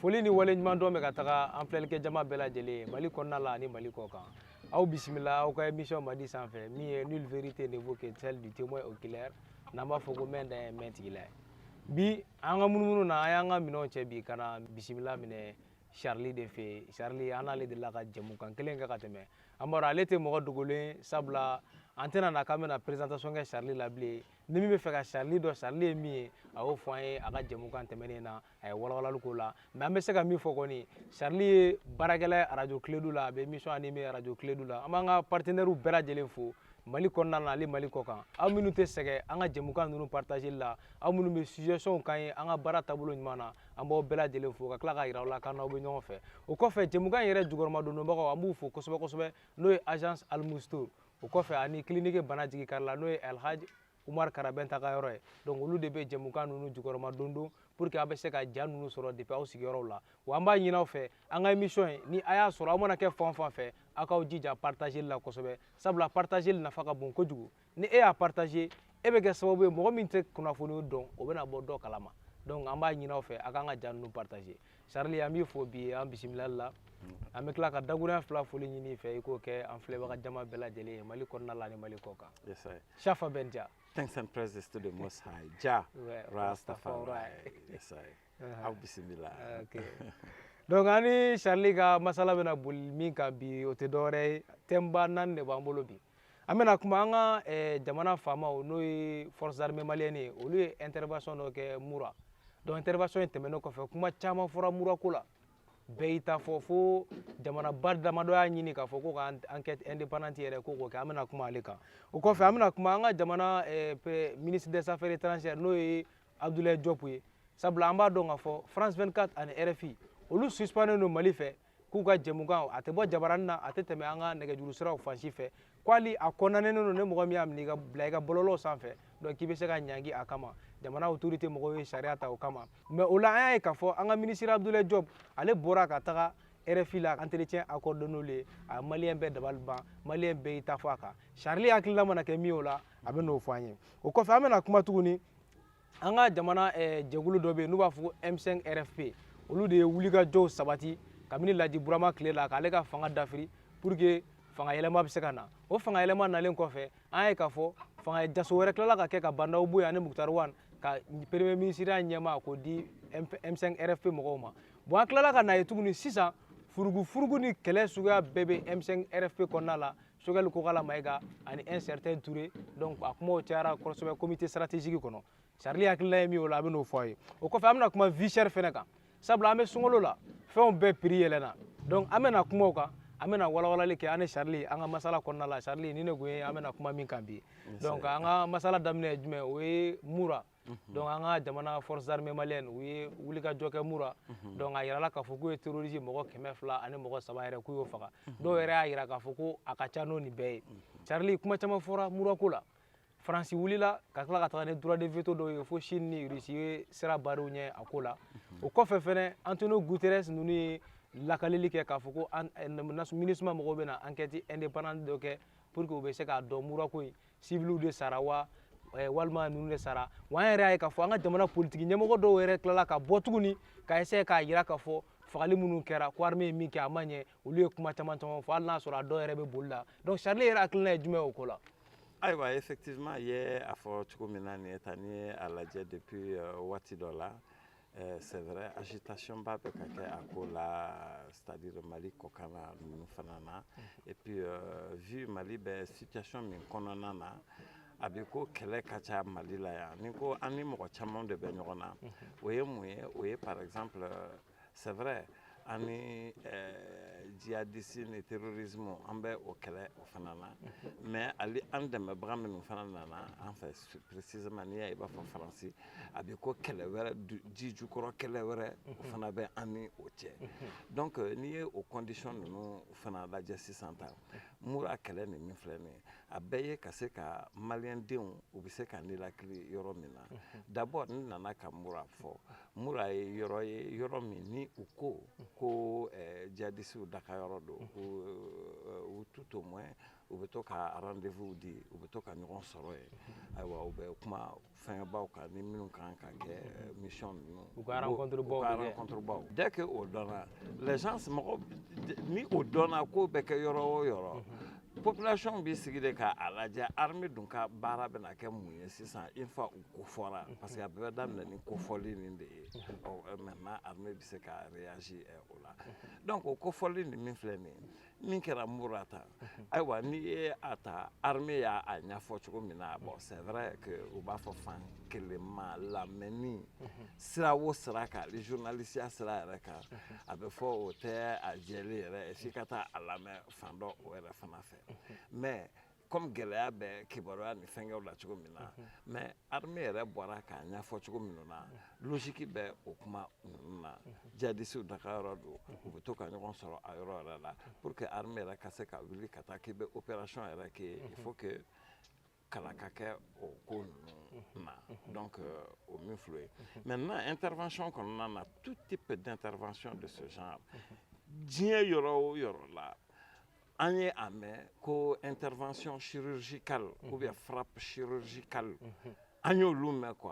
foli ni waleɲuman dɔn bɛ ka taga an filɛlikɛ jama bɛɛ lajɛlen mali kɔnɔna la ani mali kɔ kan aw bisimila aw ka émission madi sanfɛ min ye nulle vérité ne vaut que celle du témoin oculaire n'an b'a fɔ ko mɛn dan ye mɛn tigi la ye bi an ka munumunu na an y'an ka minɛnw cɛ bi ka na bisimila minɛ charli de fɛ charli an n'ale delila ka jɛmukan kelen kɛ ka tɛmɛ an b'a dɔn ale tɛ mɔgɔ dogolen sabula an tɛna na k'an bɛna présentation kɛ charli la bilen ni min bɛ fɛ ka charli dɔn charli ye min ye a y'o fɔ an ye a ka jɛmukan tɛmɛnen na a ye walawalali k'o la mais an bɛ se ka min fɔ kɔni charli ye baarakɛla ye arajo kiledu la a bɛ émission animer arajo kiledu la an b'an ka partenaires bɛɛ lajɛlen fo mali kɔnɔna na ani mali kɔ kan aw minnu tɛ sɛgɛn an ka jɛmukan ninnu partageli la aw minnu bɛ suggestionw k'an ye an ka baara taabolo ɲuman na an b'aw bɛɛ lajɛlen fo ka tila ka yira aw la k'an n'aw bɛ ɲɔgɔn fɛ o kɔfɛ jɛmukan yɛrɛ jukɔrɔma dondonbagaw an b'u fo kosɛbɛ kosɛbɛ n'o ye agence almustur o kɔfɛ ani clinique bana jigi kari la n'o ye alhaj umar karabɛnta ka yɔrɔ ye donc olu de bɛ jɛmukan ninnu jukɔrɔma dondon pour que aw bɛ se ka ja ninnu sɔrɔ depuis aw sigiyɔrɔw la wa an b'a ɲini aw fɛ an ka émission in ni a y'a sɔrɔ aw mana kɛ fan fan fɛ aw k'aw jija partageli la kosɛbɛ sabula partageli nafa ka bon kojugu ni e y'a partage e bɛ kɛ sababu ye mɔgɔ min tɛ kunnafoni dɔn o bɛna bɔ dɔ kalama donc an b'a ɲini aw fɛ a k'an ka ja ninnu partage Charlie an b'i fo bi an bisimilali la an bɛ tila ka dakuruɲɛ fila foli ɲini i fɛ i k'o kɛ an filɛbaga jama bɛɛ lajɛlen ye mali kɔnɔna la ani mali kɔ kan yes, I... shafa bɛ ja thanks and praises to the most high jah rastafari yes, I... uh-huh. aw bisimila okay. donc an ni charli ka masala bɛna boli min kan bi o tɛ dɔwɛrɛ ye thème ba naani de b'an bolo bi an bɛna kuma an ka eh, jamana faamaw n'o ye forces armées maliennes ye olu ye intervention dɔ kɛ mura donc intervention in tɛmɛnen kɔfɛ kuma caman fɔra mura ko la bɛɛ y'i ta fɔ fo jamanaba damadɔ y'a ɲini k'a fɔ ko ka enquête indépendante yɛrɛ ko k'o kɛ an bɛna kuma ale kan o kɔfɛ an bɛna kuma an ka jamana eh, ministre des affaires étrangères n'o ye abdoulaye diop ye sabula an b'a dɔn k'a fɔ france 24 ani rfi olu suspendelen don mali fɛ k'u ka jɛmukan a tɛ bɔ jabaranin na a tɛ tɛmɛ an ka nɛgɛjuru siraw fan si fɛ ko hali a kɔnnen don ni mɔgɔ min y'a minɛ ka bila i ka bɔlɔlɔw sanfɛ donc k'i bɛ se ka ɲangi a kama jamana autorité mɔgɔw ye sariya ta o kama mais o la an y'a ye k'a fɔ an ka ministre abdoulaye diop ale bɔra ka taga rfi la entretien accordé n'olu ye a ye maliyɛn bɛɛ dabali ban maliyɛn bɛɛ y'i ta fɔ a kan charli hakilila mana kɛ min ye o la a bɛn'o fɔ an ye o kɔfɛ an bɛna kuma tuguni an ka jamana eh, jɛkulu dɔ bɛ yen n'u b'a fɔ ko m5 rfp olu de ye wulikajɔw sabati kabini laji burama tile la k'ale ka fanga dafiri pour que fanga yɛlɛma bɛ se ka na o fanga yɛlɛma nalen kɔfɛ an y'a ye k'a fɔ fanga jaso wɛrɛ tilala ka kɛ ka ba ndaw bɔ yen ani mukutari wan ka premier minisiriya ɲɛma k'o di m5 rfp mɔgɔw ma bon an tilala ka n'a ye tuguni sisan furugufurugu ni kɛlɛ suguya bɛɛ bɛ m5 rfp kɔnɔna la choguel kokala mayiga ani un certain touré donc a kumaw cayara kosɛbɛ comité stratégique kɔnɔ charlie hakilina ye min o la a bɛ n'o fɔ a ye o kɔfɛ an bɛna kuma vie chère fɛnɛ kan sabula an bɛ sunkalo la fɛnw bɛɛ prix yɛlɛnna donc an bɛna kuma o kan an bɛna walawalali kɛ an ni charlie an ka masala kɔnɔna la charlie ni ne kun ye an bɛna kuma min kan bi donc an ka masala daminɛ ye jumɛn o ye mura Mhm. donc an ka jamana forces armées maliennes u ye wulikajɔ kɛ mura mhm. donc a yirala k'a fɔ k'u ye terroriste mɔgɔ kɛmɛ fila ani mɔgɔ saba yɛrɛ k'u y'o faga mhm. dɔw yɛrɛ y'a yira k'a fɔ ko a ka ca n'o nin bɛɛ ye charlie kuma caman fɔra mura ko la faransi wulila ka tila ka taga ni droit de veto dɔw ye fo chine ni russie ye sira barrer u ɲɛ a ko la o kɔfɛ fɛnɛ antonio guterres ninnu ye lakaleli kɛ k'a fɔ ko eh, minusma mɔgɔw bɛna enquête indépendante dɔ kɛ pour que u bɛ se k'a dɔn mura ko in sibiliw de sara wa eh, walima ninnu de sara wa an yɛrɛ y'a ye k'a fɔ an ka jamana politiki ɲɛmɔgɔ dɔw yɛrɛ tilala ka bɔ tuguni ka essayer k'a yira k'a fɔ fagali minnu kɛra ko armée ye min kɛ a ma ɲɛ olu ye kuma caman caman fɔ hali n'a sɔrɔ a dɔw yɛrɛ bɛ boli la donc charlie yɛrɛ hakilina ye jumɛn ye o ko la ayiwa effectivement i ye a fɔ cogo min na nin ye tan n'i ye a lajɛ depuis euh, waati dɔ la Eh, c'est vrai agitation ba bɛ ka kɛ a ko la c'est-à-dire mali kɔkan na ninnu fana na mhm. et puis euh, vu mali bɛ situation min kɔnɔna na a bɛ ko kɛlɛ ka ca mali la yan ni ko an ni mɔgɔ caman de bɛ ɲɔgɔn na mhm. o ye mun ye o ye par exemple euh, c'est vrai An ni djihadiste ni terrorisme an bɛ o kɛlɛ o fana na mais hali an dɛmɛbaga minnu fana nana an fɛ précisément n'i y'a ye i b'a fɔ faransi a bɛ ko kɛlɛ wɛrɛ ji jukɔrɔ kɛlɛ wɛrɛ o fana bɛ an ni o cɛ donc n'i ye o condition ninnu fana lajɛ sisan tan mura kɛlɛ nin min filɛ nin a bɛɛ ye ka se ka malidenw u bɛ se ka ninakili yɔrɔ min na d'abord n nana ka mura fɔ mura ye yɔrɔ ye yɔrɔ min ni u ko ko eh, jihadisiw dagayɔrɔ don u eh, tout au moins u bɛ to ka rendez-vous di u bɛ to ka ɲɔgɔn sɔrɔ yen ayiwa u bɛ kuma fɛngɛbaw kan ni minnu kan ka kɛ eh, mission ninnu u ka rencontre baw ka rencontre baw dès que o dɔnna les gens mɔgɔ ni o dɔnna ko bɛ kɛ yɔrɔ o yɔrɔ population b'i sigi de ka a lajɛ armée dun ka baara bɛna kɛ mun ye sisan une fois u kofɔra mhm. parce que a bɛɛ bɛ daminɛ ni kofɔli nin de ye mhm. maintenant armée bɛ se ka réagir eh, o la mhm. donc o kofɔli nin min filɛ nin ye min kɛra mura ta ayiwa n'i ye a ta armée y'a ɲɛfɔ cogo min na bon c'est vrai que u b'a fɔ fan kelenma lamɛnni sira o sira kan ni journalisiya sira yɛrɛ kan a bɛ fɔ o tɛ a jɛlen yɛrɛ f'i ka taa a lamɛn fan dɔ o yɛrɛ fana fɛ mais comme gɛlɛya bɛ kibaruya ni fɛnkɛw la cogo min na mais armée yɛrɛ bɔra k'a ɲɛfɔ cogo minnu na logique bɛ o kuma ninnu na jihadisiw dagayɔrɔ don u bɛ to ka ɲɔgɔn sɔrɔ a yɔrɔ yɛrɛ la pour que armée yɛrɛ ka se ka wuli ka taa k'i bɛ opération yɛrɛ kɛ il faut que kalan ka kɛ o ko ninnu na donc euh, o min filɛ ye maintenant intervention kɔnɔna na tout type d'intervention de ce genre diɲɛ yɔrɔ o yɔrɔ la An ye a mɛn ko n terirfasɔn siriz kari u bɛ fara siroz kari an y' olu mɛn qu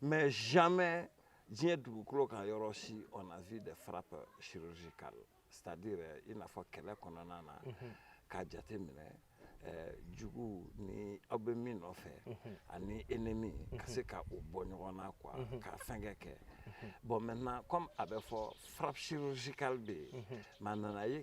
mɛ zimɛ diɲɛ dugukolo ka yɔrɔ si o na v de fara siroz kari sadi yɛrɛ i n'a fɔ kɛlɛ kɔnɔna na k'a jate minɛ jugu ni aw bɛ min nɔfɛ ani e ni min ka se ka u bɔ ɲɔgɔn na qu ka fɛnkɛ kɛ bɔn mɛ kɔmi a bɛ fɔ fara siroz kari de yen maa nana ye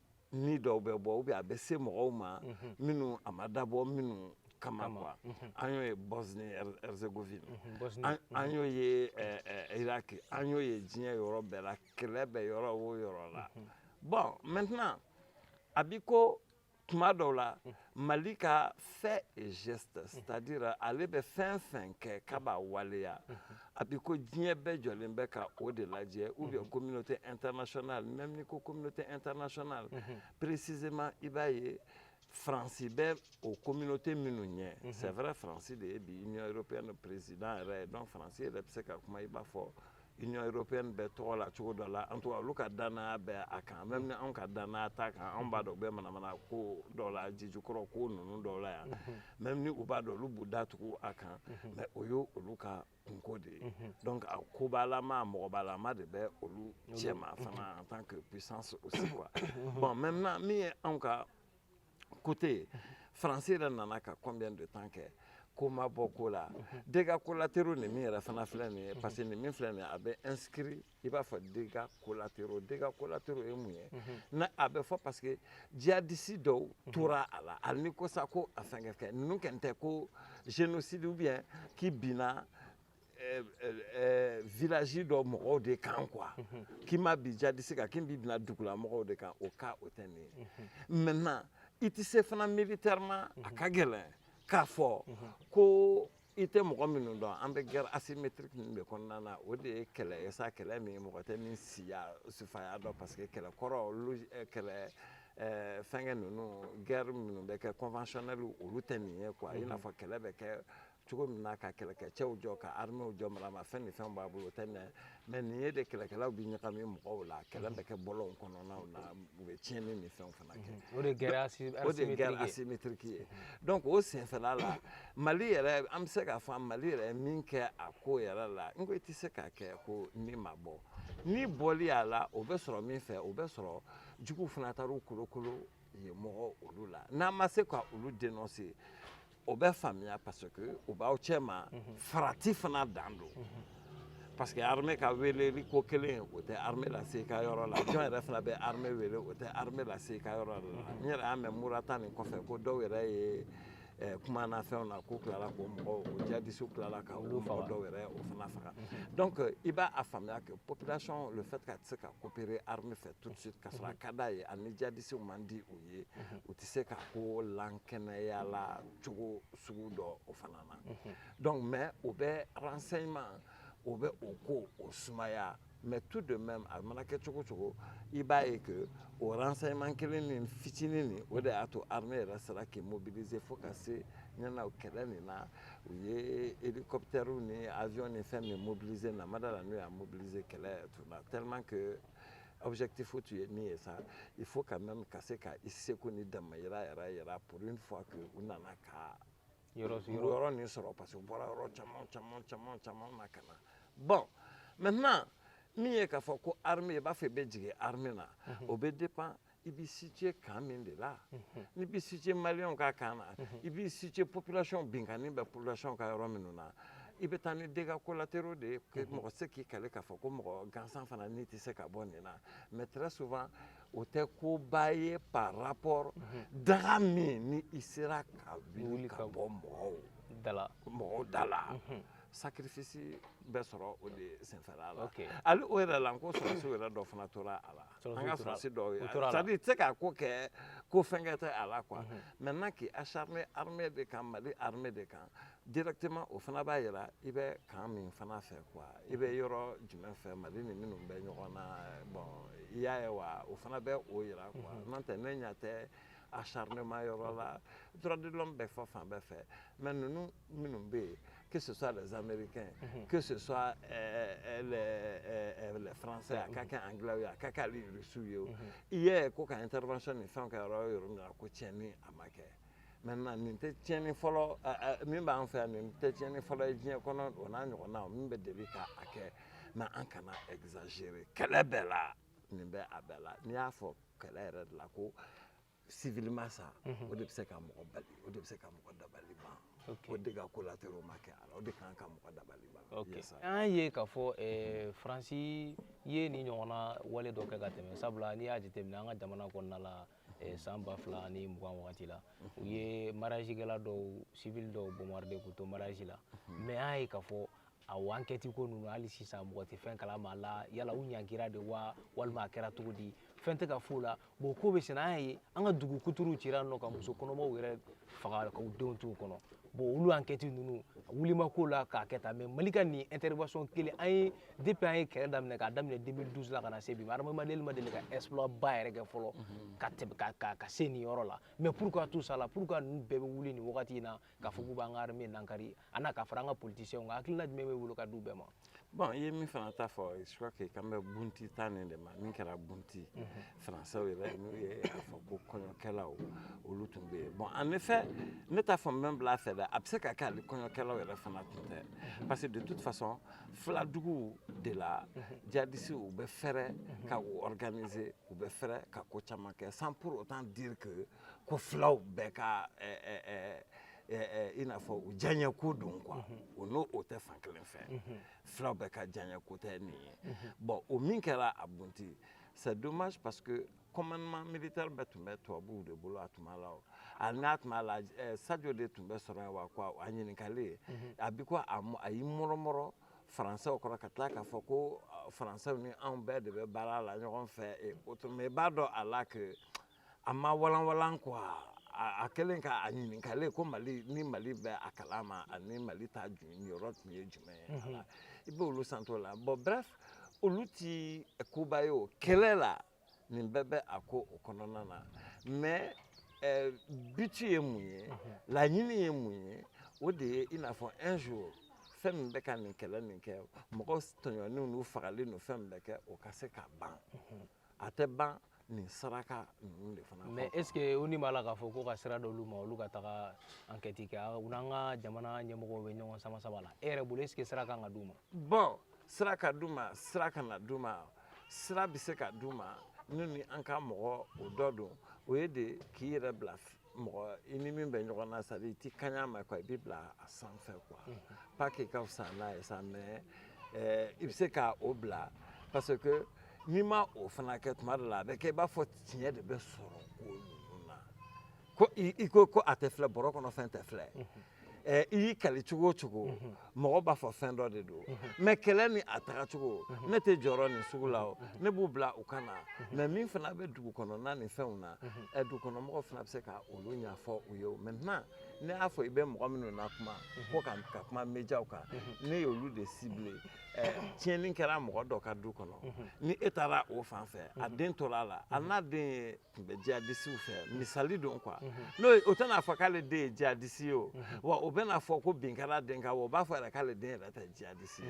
ni dɔw bɛ bɔ ou bien a bɛ se mɔgɔw ma mhm. minnu a ma dabɔ minnu kama quoi mhm. an y'o ye Bosnie Herzégovine mhm, an y'o ye eh, eh, iraki an y'o ye diɲɛ yɔrɔ bɛɛ la kɛlɛ bɛ yɔrɔ o yɔrɔ la bon maintenant a b'i ko tuma dɔw la Mali ka faits et gestes c'est à dire ale bɛ fɛn fɛn kɛ k'a b'a waleya a b'i ko diɲɛ bɛɛ jɔlen bɛ ka o de lajɛ ou bien communauté internationale même n'i ko communauté internationale précisément i b'a ye faransi bɛ o communauté minnu ɲɛ c'est vrai faransi de ye bi union européenne président yɛrɛ ye donc faransi yɛrɛ bɛ se ka kuma i b'a fɔ union européenne bɛɛ tɔgɔ la cogo dɔ la en tout cas olu ka danaya bɛ a kan même ni anw ka danaya t'a kan anw b'a dɔn u bɛ manamana ko dɔw la jijukɔrɔ ko ninnu dɔw la yan même ni u b'a dɔn olu b'u datugu a kan mais o ye olu ka kunko de ye donc a kobalama mɔgɔbalama de bɛ olu cɛma fana en tant que puissance aussi quoi bon maintenant min ye anw ka côté faransi yɛrɛ nana ka combien de temps kɛ ko ma bɔ ko la dégâts collatéraux nin min yɛrɛ fana filɛ nin ye parce que nin min filɛ nin ye a bɛ inscrit i b'a fɔ dégâts collatéraux dégâts collatéraux ye mun ye na a bɛ fɔ parce que jihadisi dɔw tora a la hali n'i ko sa ko a fɛnkɛ kɛ ninnu kɛn tɛ ko génocide ou bien k'i binna village dɔ mɔgɔw de kan quoi k'i ma bin jihadisi kan k'i bɛ binna dugula mɔgɔw de kan o cas o tɛ nin ye maintenant i tɛ se fana militairement a ka gɛlɛn k'a fɔ ko i tɛ mɔgɔ minnu dɔn an bɛ guerre asymétrique ninnu de kɔnɔna na o de ye kɛlɛ ye sa kɛlɛ min mɔgɔ tɛ min siya sufaya dɔn parce que kɛlɛ kɔrɔ kɛlɛ fɛnkɛ ninnu guerre minnu bɛ kɛ conventionnel olu tɛ nin ye quoi i n'a fɔ kɛlɛ bɛ kɛ cogo min na ka kɛlɛkɛcɛw jɔ ka arméew jɔ maramafɛn ni fɛn b'a bolo o tɛ nin mais nin ye de kɛlɛkɛlaw bɛ ɲagami mɔgɔw la kɛlɛ bɛ kɛ bɔlɔnw kɔnɔnaw na u bɛ tiɲɛni ni fɛnw fana kɛ mhm. o de ye guerre asymétrique ye donc o senfɛla la mali yɛrɛ an bɛ se k'a fɔ mali yɛrɛ min kɛ a ko yɛrɛ la n ko i tɛ se k'a kɛ ko ni ma bɔ ni bɔli y'a la o bɛ sɔrɔ min fɛ o bɛ sɔrɔ juguw fana taar'u kolokolo ye mɔgɔ olu la n'an ma se ka olu dénoncer o bɛ faamuya parce que u b'aw cɛma mhm. farati fana dan don mhm. parce que armée ka weeleli ko kelen o tɛ armée lase i ka yɔrɔ la jɔn yɛrɛ fana bɛ armée weele o tɛ armée lase i ka yɔrɔ la n yɛrɛ y'a mɛn mura ta nin kɔfɛ ko dɔw yɛrɛ ye kuma na fɛnw na k'u tilala ko mɔgɔw djihadistes tilala ka olu mɔgɔ dɔw yɛrɛ o fana faga donc i b'a faamuya que population le fait k'a tɛ se ka coopérer armée fɛ tout de suite ka sɔrɔ a ka d'a ye ani djihadistes man di u ye u tɛ se ka ko lankɛnɛya la cogo sugu dɔ o fana na donc mais o bɛ renseignement o bɛ o ko o sumaya mais tout de même a mana kɛ cogo cogo i b'a ye que o renseignement kelen nin fitinin nin o de y'a to armée yɛrɛ sera k'i mobiliser fo ka se ɲɛna kɛlɛ nin na u ye elikɔpitɛriw ni aviɔn ni fɛn min mobiliser namada la n'u y'a mobiliser kɛlɛ tun na tellement que objectif tun ye min ye sa il faut quand même ka se ka i seko ni damayira yɛrɛ yira pour une fois que u nana ka yɔrɔ nin sɔrɔ parce que u bɔra yɔrɔ caman caman caman caman na ka na bon maintenant min ye k'a fɔ ko armée i b'a fɔ i bɛ jigin armée na mhm. o bɛ dépend i b'i situer camp min de la mhm. n'i b'i situer maliyɛnw ka camp na mhm. i b'i situer population binkanni bɛ population ka yɔrɔ minnu na i bɛ taa ni dégâts collatéraux de ye mɔgɔ tɛ se k'i kali k'a fɔ ko mɔgɔ gansan fana ni tɛ se ka bɔ nin na mais très souvent o tɛ koba ye par rapport mhm. daga min ni i sera ka wuli ka bɔ mɔgɔ mɔgɔw da la mhm. sacrifice bɛ sɔrɔ o de senfɛla la hali o yɛrɛ la n ko sɔrɔsi yɛrɛ dɔ fana tora a la an ka sɔrɔsi dɔw ye c'est à dire i tɛ se ka ko kɛ ko fɛnkɛ tɛ a la quoi mhm. maintenant k'i acharner armée de kan mali armée de kan directement o fana b'a yira i bɛ camp min fana fɛ quoi i bɛ yɔrɔ jumɛn fɛ mali ni minnu bɛ ɲɔgɔn na bon i y'a ye wa o fana bɛ o yira quoi mhm. n'o tɛ ne ɲɛ tɛ acharnement yɔrɔ la droit de l'homme bɛ fɔ fan bɛɛ fɛ mais ninnu minnu bɛ yen que ce soit les américains mhm. que ce soit euh, euh, les, euh, les français a ka kɛ anglais ye a ka kɛ hali russiw ye o mhm. i y'a ye ko ka intervention ni fɛnw kɛ yɔrɔ o yɔrɔ min na ko tiɲɛni a ma kɛ maintenant nin tɛ tiɲɛni fɔlɔ min b'an fɛ yan nin tɛ tiɲɛni fɔlɔ ye diɲɛ kɔnɔ o n'a ɲɔgɔnna min bɛ deli k'a kɛ mais an kana exagérer kɛlɛ bɛɛ la nin bɛ a bɛɛ la n'i y'a fɔ kɛlɛ yɛrɛ de la ko civil ma sa o de bɛ se ka mɔgɔ bali o de bɛ se ka mɔgɔ dabali ban ou dégâts collatéraux ma kɛ a la o de kan ka mɔgɔ dabali ban an ye k'a fɔ eh, faransi ye nin ɲɔgɔnna wale dɔ kɛ ka tɛmɛ sabula n'i y'a jateminɛ an ka jamana kɔnɔna la eh, san ba fila ni mugan wagati la u ye mariage kɛla dɔw civil dɔw bombarder k'u to mariage la mais an y'a ye k'a fɔ a enquête ko ninnu hali sisan mɔgɔ tɛ fɛn kalama a la yala u ɲangira de wa walima a kɛra cogo di fɛn tɛ ka f'o la bon ko bɛ senna an y'a ye an ka dugu kuturu cira nɔ ka muso kɔnɔmaw yɛrɛ faga ka u denw t'u kɔnɔ bon olu enquête ninnu wuli ma k'o la k'a kɛ tan mais mali ka nin intervention kelen an ye depuis an ye kɛlɛ daminɛ k'a daminɛ 2012 la ka na se bi ma armée ma deli ma deli ka exploit ba yɛrɛ kɛ fɔlɔ mhm. ka tɛmɛ ka ka ka se nin yɔrɔ la mais pourquoi tout ça la pourquoi ninnu bɛɛ bɛ wuli nin wagati in na k'a fɔ k'u b'an ka armée nankari a n'a ka fara an ka politiciens kan hakilina jumɛn b'i bolo ka d'u bɛɛ ma. bon i ye min fana ta fɔ je crois que i kan bɛ bunti ta nin de ma min kɛra bunti mhm. faransɛw yɛrɛ n'u ye a fɔ ko kɔɲɔkɛlaw olu tun bɛ yen bon en effet ne t'a fɔ n bɛ n bila a fɛ dɛ a bɛ se ka kɛ hali kɔɲɔkɛlaw yɛrɛ fana tun tɛ parce que de toute façon filaduguw de la djihadistes u bɛ fɛrɛ ka u organiser u bɛ fɛrɛ ka ko caman kɛ sans pour autant dire que ko filaw bɛɛ ka ɛɛ eh, ɛɛ eh, eh, i n'a fɔ u diyaɲɛko don quoi o non o tɛ fan kelen fɛ filaw bɛɛ ka diyaɲɛko tɛ nin ye bon o min kɛra a bunti C'est dommage parce que commandement militaire bɛɛ tun bɛ tubabuw de bolo a tuma la o a n'a tuma la eh, sajo de tun bɛ sɔrɔ yen wa quoi a ɲininkalen mhm. a b'i ko a y'i mɔrɔmɔrɔ faransɛw kɔrɔ ka tila k'a fɔ ko eh, faransɛw ni anw bɛɛ de bɛ baara la ɲɔgɔn fɛ et autres mais i b'a dɔn a la que a ma walanwalan quoi a kɛlen ka a ɲininkalen ko mali ni mali bɛ a kalama ani mali ta niyɔrɔ tun ye jumɛn ye mhm. ala i b'olu santo la bon bref olu ti koba ye o kɛlɛ la nin bɛɛ bɛ a ko o kɔnɔna na mais eh, but ye mun ye mhm. laɲini ye mun ye o de ye i n'a fɔ un jour fɛn min bɛ ka nin kɛlɛ nin kɛ mɔgɔ tɔɲɔnenw n'u fagalen ninnu fɛn min bɛ kɛ o ka se ka ban mhm. a tɛ ban nin saraka ninnu de fana mais est ce que ONU b'a la k'a fɔ ko ka sira d'olu ma olu ka taga enquête kɛ u n'an ka jamana ɲɛmɔgɔw bɛ ɲɔgɔn sama sama la e yɛrɛ bolo est ce que sira kan ka d'u ma bon sira ka d'u ma sira kana d'u ma sira bɛ se ka d'u ma n'u ni an ka mɔgɔw dɔ don o ye de k'i yɛrɛ bila mɔgɔ i ni min bɛ ɲɔgɔn na c'est à dire i t'i kaɲa ma quoi i b'i bila a sanfɛ quoi pas qu'i ka fisa n'a ye sa mais eh, i bɛ se ka o bila parce que n'i ma o fana kɛ tuma dɔ la a bɛ kɛ i b'a fɔ tiɲɛ de bɛ sɔrɔ ko ninnu na ko i ko ko a tɛ filɛ bɔrɔ kɔnɔ fɛn tɛ filɛ Eh, i y'i kali cogo o cogo mhm. mɔgɔ b'a fɔ fɛn dɔ de don mhm. mais kɛlɛ ni a tagacogo mhm. ne tɛ jɔyɔrɔ nin sugu la o ne b'u bila u ka na mais min fana bɛ dugu kɔnɔna ni fɛnw na eh, dugukɔnɔmɔgɔw fana bɛ se ka olu ɲɛfɔ u ye maintenant ne y'a fɔ i bɛ mɔgɔ minnu na kuma ko ka ka kuma médiaw kan ne y'olu de ciblé eh, tiɲɛni kɛra mɔgɔ dɔ ka du kɔnɔ ni e taara o fan fɛ a den tora a la a n'a den ye tun bɛ jihadisiw fɛ mhm. misali don quoi mhm. n'o o tɛna fɔ k'ale den ye jihadisi ye o mhm. wa o bɛna fɔ ko bin kɛra den kan wa o b'a fɔ yɛrɛ k'ale den yɛrɛ tɛ jihadisi ye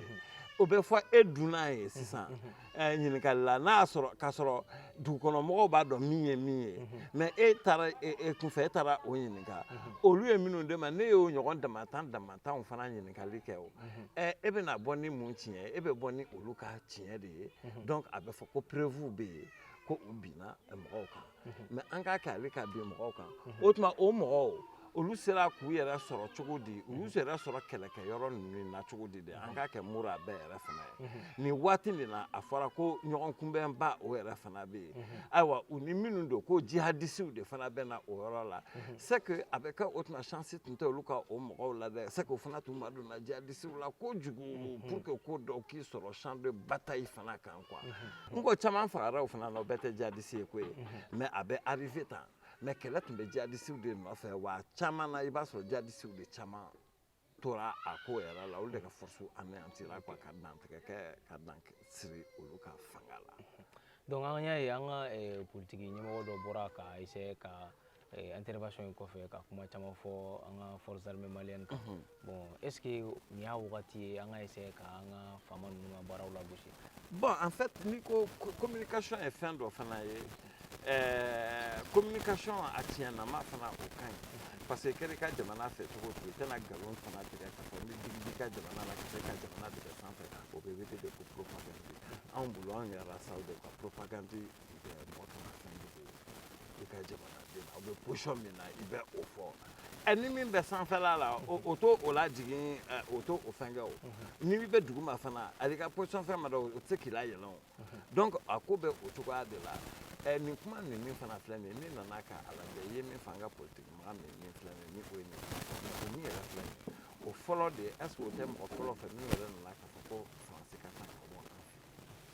o bɛ fɔ e dunna ye sisan eh, ɲininkali la n'a y'a sɔrɔ k'a sɔrɔ dugukɔnɔmɔgɔw b'a dɔn min ye min ye mais e taara e, e kunfɛ e taara o ɲininka olu ye minnu de ma ne y'o ɲɔgɔn damatan damatanw fana ɲininkali kɛ o eh, e bɛna bɔ ni mun tiɲɛ ye e bɛ bɔ ni olu ka tiɲɛ de ye donc a bɛ fɔ ko preuve bɛ yen ko u binna mɔgɔw kan mais an k'a kɛ ale ka bin mɔgɔw kan o tuma o mɔgɔw olu sera k'u yɛrɛ sɔrɔ cogo di u y'u yɛrɛ sɔrɔ kɛlɛkɛ yɔrɔ ninnu na cogo di de an k'a kɛ mura bɛɛ yɛrɛ fana ye nin waati min na a fɔra ko ɲɔgɔnkunbɛnba o yɛrɛ fana bɛ yen ayiwa u ni minnu don ko jihadisiw de fana bɛ na o yɔrɔ la c'est que a bɛ kɛ o tuma chance tun tɛ olu ka o mɔgɔw la dɛ c'est que o fana tun ma donna jihadisiw la kojugu pour que ko dɔw k'i sɔrɔ champ de bataille fana kan n ko caman fagara o fana na o bɛɛ tɛ jadisi ye koyi mais a bɛ arrivé tan mais kɛlɛ tun bɛ jadisiw de nɔfɛ wa caman na i b'a sɔrɔ jadisiw de caman tora a ko yɛrɛ la olu de ka force anéantira quoi ka dantigɛ kɛ ka dan siri olu ka fanga la donc an y'a ye an ka eh, politiki ɲɛmɔgɔ dɔ bɔra ka essayer ka Eh, intervention in kɔfɛ ka kuma caman fɔ an ka force armée malienne kan mhm. bon est ce que nin y'a wagati ye an ka essayer ka an ka faama ninnu ka baaraw lagosi bon en fait n'i ko communication ye fɛn dɔ fana ye eh, communication a tiɲɛnama fana o ka ɲi parce que kɛra i ka jamana fɛ cogo o cogo i tɛna nkalon fana tigɛ k'a fɔ ni digi b'i ka jamana la ka se ka jamana tigɛ sanfɛ o bɛ wele de ko propagande anw bolo anw yɛrɛ saw de ka propagande i bɛ mɔgɔ kana fɛn dogo i ka jamanaden na aw bɛ position min na i bɛ o fɔ ɛ ni min bɛ sanfɛla la o t'o lajigin o t'o fɛn kɛ o n'i bɛ duguma fana ali ka position fɛn ma dɔn o tɛ se k'i layɛlɛn o donc a ko bɛ o cogoya de la ɛ nin kuma nin min fana filɛ nin ye ne nana ka a lajɛ i ye min fɔ an ka politiki mɔgɔ min min filɛ nin ye ni o ye nin o min yɛrɛ filɛ nin ye o fɔlɔ de est ce que o tɛ mɔgɔ fɔlɔ fɛ min yɛrɛ nana k'a fɔ ko faransi ka taa ka bɔ an fɛ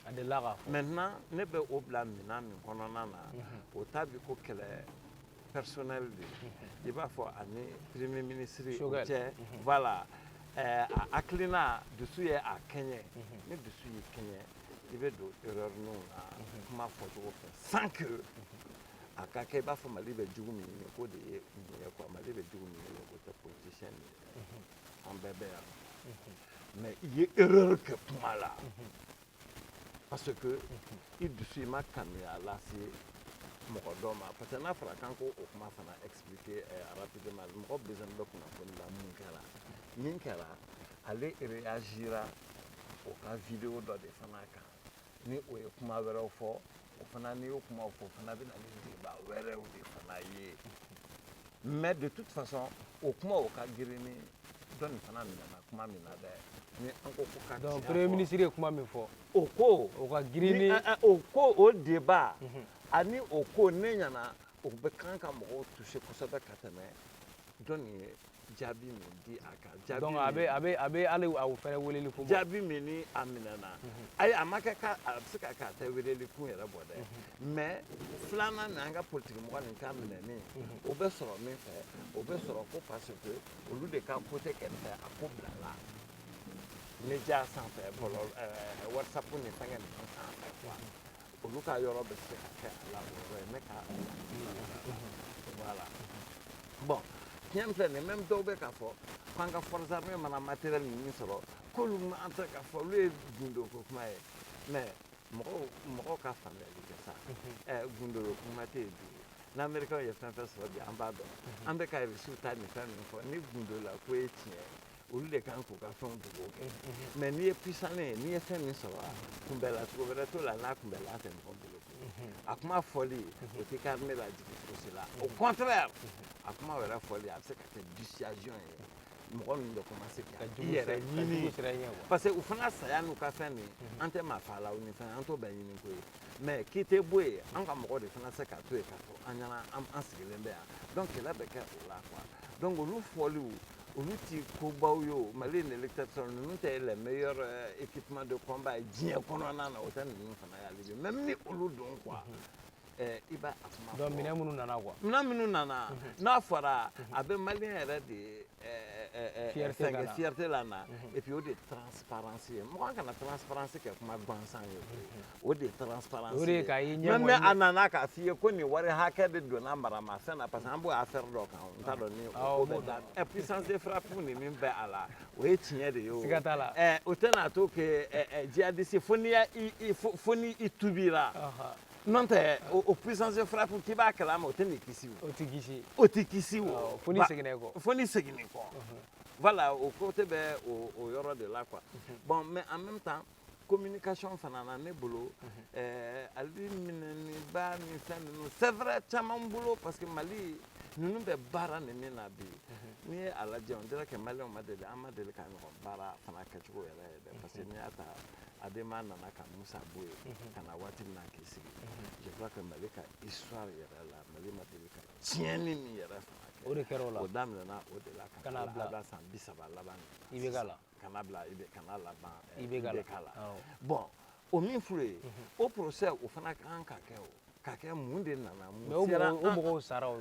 A de la maintenant ne bɛ o bila minɛn min kɔnɔna na o t'a bi ko kɛlɛ personnel de i b'a fɔ ani premier ministre o cɛ voilà a hakilina dusu ye a kɛɲɛ ni dusu y'i kɛɲɛ i bɛ don erreur ninnu na kuma fɔcogo fɛ sans que a ka kɛ i b'a fɔ mali bɛ jugu min ye k'o de ye nin ye quoi mali bɛ jugu min ye o tɛ politicien an bɛɛ bɛ yan mais i ye erreur kɛ kuma la parce que i dusu i ma kanuya lase mɔgɔ dɔ ma parce que n'a fɔra k'an k'o kuma fana expliquer eh, rapidement mɔgɔ besoin bɛ kunnafoni la mun kɛra min kɛra ale réagira o ka vidéo dɔ de fana kan ni o ye kuma wɛrɛw fɔ o fana n'i y'o kumaw fɔ o fana bɛ na ni débat wɛrɛw de fana ye mais de toute façon o kuma o ka girin ni dɔ nin fana minɛna kuma min na dɛ ni an ko ko ka donc premier ministre ye kuma min fɔ o ko o ka girin ni o ko o débat ani o ko ne ɲɛna o bɛ kan ka mɔgɔw toucher kosɛbɛ ka tɛmɛ dɔ nin ye jaabi min di a kan jaabi donc a bɛ a bɛ a bɛ hali a fɛnɛ weleli kun bɔ jaabi min ni a minɛna ayi a ma kɛ ka a bɛ se ka kɛ a tɛ weleli kun yɛrɛ bɔ dɛ mais filanan nin an ka politiki mɔgɔ nin ka minɛni o bɛ sɔrɔ min fɛ o bɛ sɔrɔ ko parce que olu de ka côté kɛrɛfɛ a ko bilala média sanfɛ bɔlɔlɔ whatsapp ni fɛnkɛ ninnu sanfɛ quoi olu ka yɔrɔ bɛ se ka kɛ a la o yɔrɔ ye ne ka voilà bon tiɲɛ filɛ nin même dɔw bɛ k'a fɔ k'an ka forces armées mana matériel ninnu sɔrɔ k'olu montrer k'a fɔ olu ye gundo ko kuma ye mais mɔgɔw mɔgɔw ka faamuyali kɛ sa ɛ gundo ko kuma tɛ yen bi n'américain ye fɛn fɛn sɔrɔ bi an b'a dɔn an bɛ ka Russie ta ni fɛn ninnu fɔ ni gundo la ko ye tiɲɛ ye olu de kan k'u ka fɛnw dogo kɛ mais n'i ye puissant ye n'i ye fɛn min sɔrɔ kunbɛla cogo wɛrɛ t'o la n'a kunbɛla tɛ mɔgɔ bolo a kuma fɔli o tɛ ka armée lajigin fosi la au contraire a kuma wɛrɛ fɔli a bɛ se ka kɛ dissuasion ye mɔgɔ ninnu bɛ commencer ka i yɛrɛ ɲini parce que u fana saya n'u ka fɛn min an tɛ maa fa la u ni fɛn an t'o bɛɛ ɲini ko ye mais k'i tɛ bɔ yen an ka mɔgɔ de fana se ka to yen k'a fɔ an ɲɛna an sigilen bɛ yan donc kɛlɛ bɛ kɛ o la quoi donc olu fɔliw olu ti kobaw ye o mali in électeur ninnu tɛ le meilleur euh, équipement de combat ye diɲɛ kɔnɔna na o tɛ ninnu fana y'ale de même ni olu don quoi mhm. eh, i b'a a kuma donc minɛn minnu nana quoi minɛn minnu nana mhm. n'a fɔra mhm. a bɛ maliyɛn yɛrɛ de eh, eh, sɛgɛn fierté la na et puis o de transparence ye mɔgɔ kana transparence kɛ kuma gansan ye o de ye transparence o de ye ka ye ɲɛ mɛ a nana k'a f'i ye ko nin wari hakɛ de donna maramafɛn na parce que an b'o affaire dɔ kan n t'a dɔn ni ko bɛ da ɛ puissance de frappe ni min bɛ a la o ye tiɲɛ de ye o siga t'a la ɛ o tɛna to kɛ jihadiste fo n'i y'a i fo n'i i tubira n'o tɛ o puissance de frappe k'i b'a kalama o tɛn'i kisi o o tɛ kisi o tɛ kisi o fo n'i seginna i kɔ fo n'i seginna i kɔ voilà o côté bɛ o yɔrɔ de la quoi bon mais en même temps communication fana na ne bolo ɛɛ hali minɛniba ni fɛn ninnu c'est vrai caman bolo parce que mali ninnu bɛ baara nin min na bi n'i ye a lajɛ on dirait que maliyɛnw ma deli an ma deli ka ɲɔgɔn baara fana kɛcogo yɛrɛ ye dɛ parce que n'i y'a ta adema nana ka musa bɔ yen ka na waati min na k'i sigi je crois que mali ka histoire yɛrɛ la mali ma deli ka tiɲɛni min yɛrɛ fana kɛ o de kɛra o la o daminɛna o de la ka na bila san bi saba laban i bɛ ka la ka na bila i bɛ ka na laban i bɛ k'a la bon o min furu ye o procès o fana ka kan ka kɛ o ka kɛ mun de nana mun o mɔgɔw sara o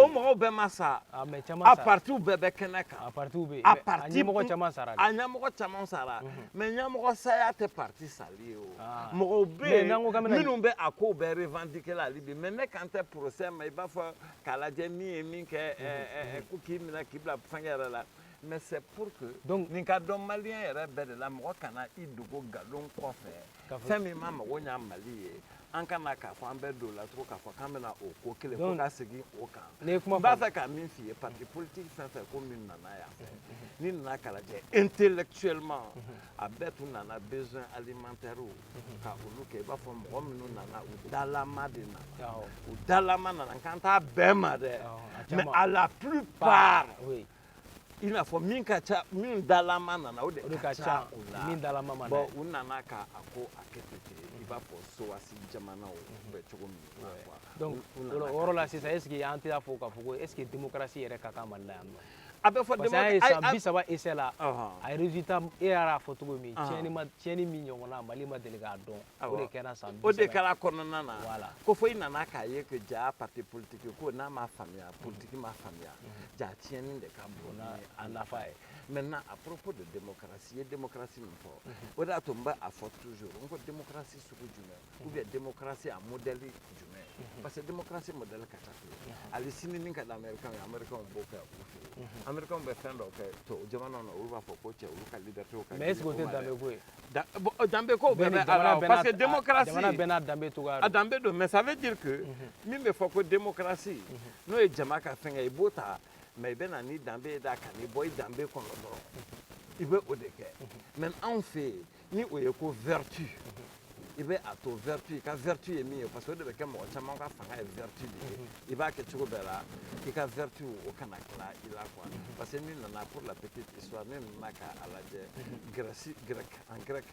mɔgɔw bɛɛ ma sa a partiw bɛɛ bɛ kɛnɛ kan a partiw bɛ a parti ɲɛmɔgɔ caman sara a ɲɛmɔgɔ caman sara mais ɲɛmɔgɔ saya tɛ parti sali ye o mɔgɔw bɛ yen minnu bɛ a ko bɛɛ revendiquer la hali bi mais ne kan tɛ procès ma i b'a fɔ k'a lajɛ min ye min kɛ ko k'i minɛ k'i bila fɛngɛ yɛrɛ la mais c'est pour que donc nin ka dɔn maliyɛn yɛrɛ bɛɛ de la mɔgɔ kana i dogo nkalon kɔfɛ fɛn min ma mago ɲa mali ye an kana k'a fɔ an bɛ don la tugun k'a fɔ k'an bɛna o ko kelen fɔ ka segin o kan n b'a fɛ ka min f'i ye parti politique fɛn fɛn ko min nana yan fɛ n'i nana k'a lajɛ intellectuellement a bɛɛ tun nana besoin alimentaire ka olu kɛ i b'a fɔ mɔgɔ minnu nana u dalama de nana u dalama nana n kan t'a bɛɛ ma dɛ mais à la plupart i n'a fɔ min ka ca min dalama nana o de ka ca u la min dalama ma bɔn u nana ka a ko a kɛ ten ten i b'a fɔ sowasi jamanaw bɛ cogo min na quoi donc o yɔrɔ la sisan est ce que an tɛ fɔ k'a fɔ ko est ce que démocratie yɛrɛ ka kan mali la yan non a bɛ fɔ parce que an ye san bi saba essai la a ye résultat e yɛrɛ y'a fɔ cogo min tiɲɛni ma tiɲɛni min ɲɔgɔnna mali ma deli k'a dɔn o de kɛra san bi saba o de kɛra kɔnɔna na ko fo i nana k'a ye que ja parti politique ko n'a ma faamuya politique ma faamuya ja tiɲɛni de ka bon n'a nafa ye maintenant à propos de démocratie i ye démocratie min fɔ o de y'a to n bɛ a fɔ toujours n ko démocratie sugu jumɛn ou bien démocratie a modèle jumɛn parce que démocratie modèle ka ca koyi hali sini min ka di américain ye américain b'o kɛ u fɛ yen américain bɛ fɛn dɔ kɛ tubabu jamana na olu b'a fɔ ko cɛ olu ka liberté ka mais est ce que o tɛ danbe ko ye danbe ko bɛɛ bɛ a la parce que démocratie jamana bɛɛ n'a danbe cogoya a danbe don mais ça veut dire que min bɛ fɔ ko démocratie n'o ye jama ka fɛngɛ i b'o ta mais i bɛ na ni danbe ye da kan n'i bɔ i danbe kɔnɔ dɔrɔn i bɛ o de kɛ mais anw fɛ yen ni o ye ko vertu i bɛ a to vertu i ka vertu ye min ye parce que o de bɛ kɛ mɔgɔ caman ka fanga ye vertu de ye i b'a kɛ cogo bɛɛ la i ka vertu o kana tila i la quoi parce que n'i nana pour la petite histoire ni ne nana k'a lajɛ grɛsi grɛki en grɛk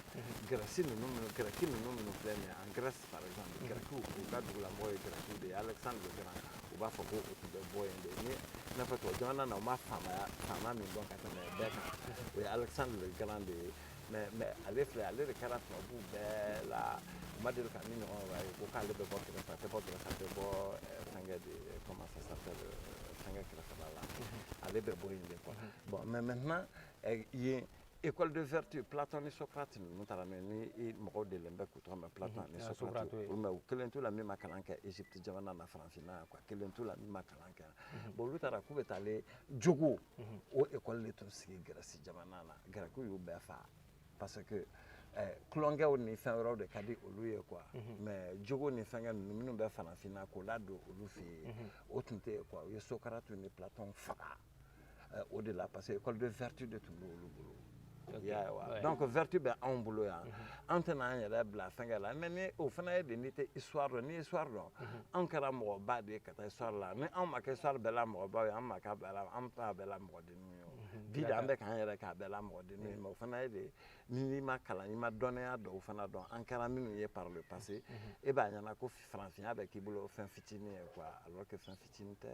grɛsi ninnu minnu grɛki ninnu minnu filɛ nin ye en grɛsi par exemple grɛkiw u ka dugulamɔgɔ ye grɛkiw de ye alexandre le grand u b'a fɔ ko u tun bɛ bɔ yen de ni i n'a fɔ tubabu jamana na u ma faama faama min dɔn ka tɛmɛ bɛɛ kan o ye alexandre le grand de ye mais mais ale filɛ ale de kɛra tubabu bɛɛ la u ma deli ka min ɲɔgɔn wɛrɛ ye ko k'ale bɛ bɔ kɛrɛfɛ a tɛ bɔ kɛrɛfɛ a tɛ bɔ fɛnkɛ de comment ça s'appelle fɛnkɛ kɛrɛfɛ ale bɛ bɔ yen de quoi bon mais maintenant yen école de vertu Platon ni Socrate ninnu taara n'o ye ni mɔgɔw delilen bɛ k'u tɔgɔ mɛn Platon ni Socrate olu ma u kelen t'u la min ma kalan kɛ Egypte jamana na farafinna yan quoi kelen t'u la min ma kalan kɛ yan bon olu taara k'u bɛ taa ale jogo o école de tun sigi Grèce jamana na Grɛkiw y'u bɛɛ faga parce que eh, tulonkɛw ni fɛn wɛrɛw de ka di olu ye quoi mhm. mais jogo ni fɛngɛ ninnu minnu bɛ farafinna k'o ladon olu fɛ yen mhm. o tun tɛ yen quoi u ye socrate ni platon faga eh, o de la parce que école de vertu de tun b'olu bolo yawa donc vertu bɛ anw bolo yan mhm. an tɛna an yɛrɛ bila fɛngɛ la mais ni o fana ye de n'i tɛ histoire dɔn ni histoire dɔn mhm. anw kɛra mɔgɔba de ye ka taa histoire la ni anw ma kɛ histoire bɛɛ la mɔgɔbaw ye an ma k'a bɛɛ la an t'a bɛɛ la mɔgɔden bi de an bɛ k'an yɛrɛ k'a bɛɛ la mɔgɔden ye mais o fana ye de n'i ma kalan i ma dɔnniya dɔw fana dɔn an kɛra minnu ye par le passé e b'a ɲɛna ko farafinya bɛ k'i bolo fɛn fitinin ye quoi alors que fɛn fitinin tɛ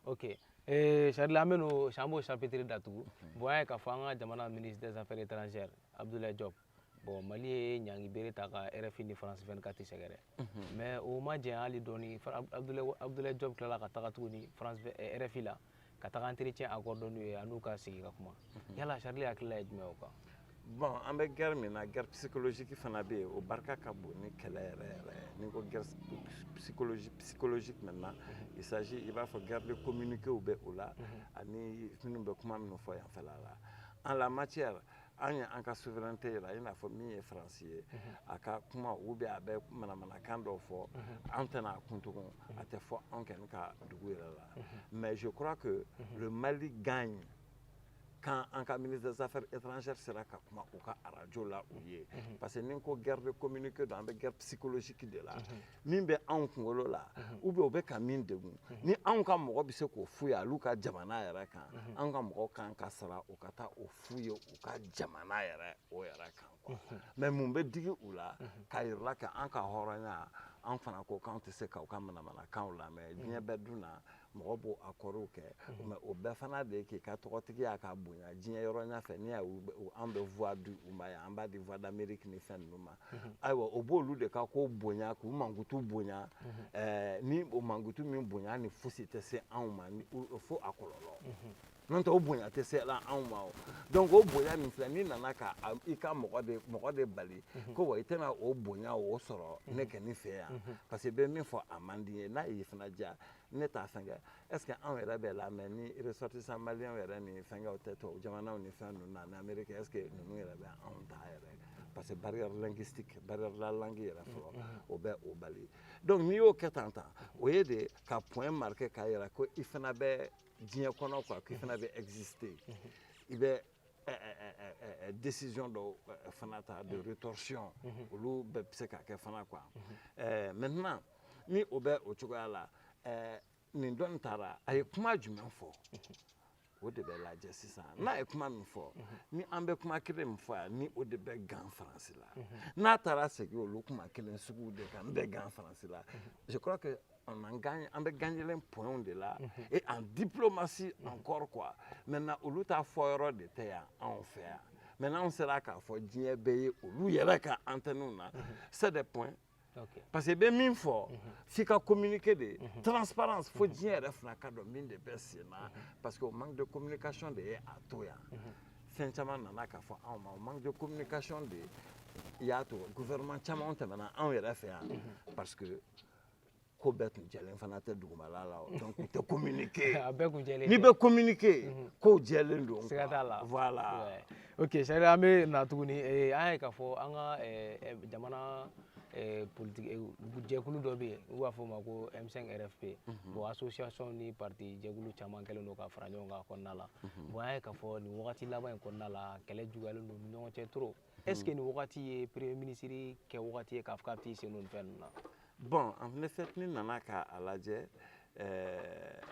ok eh, Charles an bɛ n'o an b'o chapitre datugu bon an y'a ye k'a fɔ an ka jamana ministre des affaires étrangères Abdoulaye Diop bon mali ye ɲangi bere ta ka rfi ni france 24 sɛgɛrɛ mais o ma jɛn hali dɔɔni abdoulaye diop tilala ka taga tuguni france eh, rfi la ka taga entretien accorder u ye a n'u ka sigi ka kuma yala charles hakilila ye jumɛn o kan bon an bɛ guerre min na guerre psychologique fana bɛ yen o barika ka bon ni kɛlɛ yɛrɛ yɛrɛ n'i ko guerre psychologique psychologique maintenant il s'agit i b'a fɔ guerre de communiqué bɛ o la ani minnu bɛ kuma minnu fɔ yanfɛla la en la matière an ye an ka souveraineté yira i n'a fɔ min ye faransi ye mhm. a ka kuma ou bien a bɛ manamanakan dɔw fɔ mhm. an tɛna a kun tugun mhm. a tɛ fɔ anw kɔni ka dugu yɛrɛ la mais je crois que le mali gagne quand an ka ministre des affaires étrangères sera ka kuma u ka arajo la u ye parce que ni ko guerre de communiqué don an bɛ guerre psychologique de la min bɛ anw kunkolo la u bɛ u bɛ ka min degun ni anw ka mɔgɔ bɛ se k'o f'u ye olu ka jamana yɛrɛ kan anw ka mɔgɔ kan ka sara u ka taa o f'u ye u ka jamana yɛrɛ o yɛrɛ kan quoi mais mun bɛ digi u la k'a yirala ka an ka hɔrɔnya an fana ko k'an tɛ se k'u ka manamanakanw lamɛn diɲɛ bɛɛ dun na mɔgɔ b'o accords kɛ mhm. mais o bɛɛ fana de ye k'i ka tɔgɔtigiya ka bonya diɲɛ yɔrɔ ɲɛ fɛ ni an bɛ voix di u ma yan an b'a di voix d'amérique ni fɛn ninnu ma mhm. ayiwa o b'olu de ka ko bonya k'u mankutu bonya mhm. eh, ni o mankutu min bonya ni fosi tɛ se anw ma fo a kɔlɔlɔ n'o tɛ o bonya tɛ se la anw ma o donc o bonya min filɛ n'i nana ka i ka mɔgɔ de mɔgɔ de bali mhm. ko wa i tɛna o bonya o sɔrɔ mhm. ne kɛ ne fɛ yan mhm. parce que bɛ min fɔ a man di ye n'a y'i fana diya ne t'a fɛnkɛ est ce que anw yɛrɛ bɛ lamɛn ni ressortissant malien yɛrɛ ni fɛnkɛw tɛ tubabu jamanaw ni fɛn ninnu na ni amérique est ce que ninnu yɛrɛ bɛ anw ta yɛrɛ parce que barrière linguistique barrière la langue yɛrɛ fɔlɔ o bɛ o bali donc n'i y'o kɛ tan tan o ye de ka point marquer k'a yira ko i fana bɛ diɲɛ kɔnɔ quoi k'i fana bɛ exister i bɛ décision dɔw fana ta de rétorsion olu bɛɛ bɛ se ka kɛ fana quoi maintenant ni o bɛ o cogoya la nin dɔ in taara a ye kuma jumɛn fɔ o de bɛ lajɛ sisan n'a ye kuma min fɔ ni an bɛ kuma kelen min fɔ yan ni o de bɛ gan faransi la n'a taara segin olu kuma kelen sugu de kan n bɛ gan faransi la je crois que on en gagne, an bɛ gagner en points de la mhm. et en diplomatie mhm. encore quoi maintenant olu ta fɔ yɔrɔ de tɛ yan anw fɛ yan maintenant anw sera k'a fɔ diɲɛ bɛɛ ye olu yɛrɛ ka antenne na mhm. c'est des points Okay. parce que i bɛ min fɔ mm -hmm. f'i ka communiquer de mm -hmm. transparence fo diɲɛ yɛrɛ fana k'a dɔn min de bɛ sen na mm -hmm. parce que o manque de communication de ye a to yan mm -hmm. fɛn caman nana k'a fɔ anw ma o manque de communication de y'a to gouvernement caman tɛmɛna anw yɛrɛ fɛ yan mm -hmm. parce que ko bɛɛ tun jɛlen fana tɛ dugumala la o donc u tɛ communiquer a bɛɛ tun jɛlen n'i bɛ communiquer mhm. kow jɛlen don siga t'a la voilà ok sari an bɛ na tuguni eh, an y'a ye k'a fɔ an ka eh, eh, jamana politiki jɛkulu dɔ bɛ yen n'u b'a fɔ o ma ko M5 RFP mhm. bon association ni parti jɛkulu caman kɛlen don ka fara ɲɔgɔn kan a kɔnɔna la mhm. bon an y'a ye k'a fɔ nin wagati laban in kɔnɔna la kɛlɛ juguyalen don u ni ɲɔgɔn cɛ trop est ce que nin wagati ye premier ministre kɛ wagati ye k'a fɔ k'a bɛ t'i sen don nin fɛn ninnu na. bon en effet n'i nana k'a lajɛ ɛɛ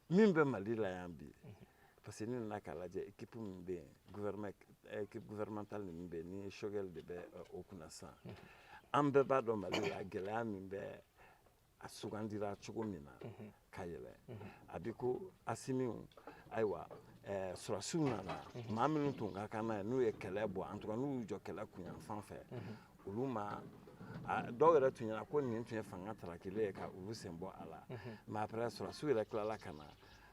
min bɛ mali la yan bi parce que n'i nana k'a lajɛ équipe min bɛ yen gouvernement équipe gouvernementale min bɛ yen ni Choguel de bɛ o kunna sisan an bɛɛ b'a dɔn mali la gɛlɛya min bɛ a sugandira cogo min na mhm. ka yɛlɛ mhm. a bi ko asimiw ayiwa eh, sɔrasiw nana mhm. maa minnu tun ka kan n'a ye n'u ye kɛlɛ bɔ en tout cas n'u y'u jɔ kɛlɛ kunyanfan fɛ olu maa dɔw yɛrɛ tun ɲɛna ko nin tun ye fanga tarakile ye ka olu sen bɔ a la mais après sɔrasiw yɛrɛ tilala ka na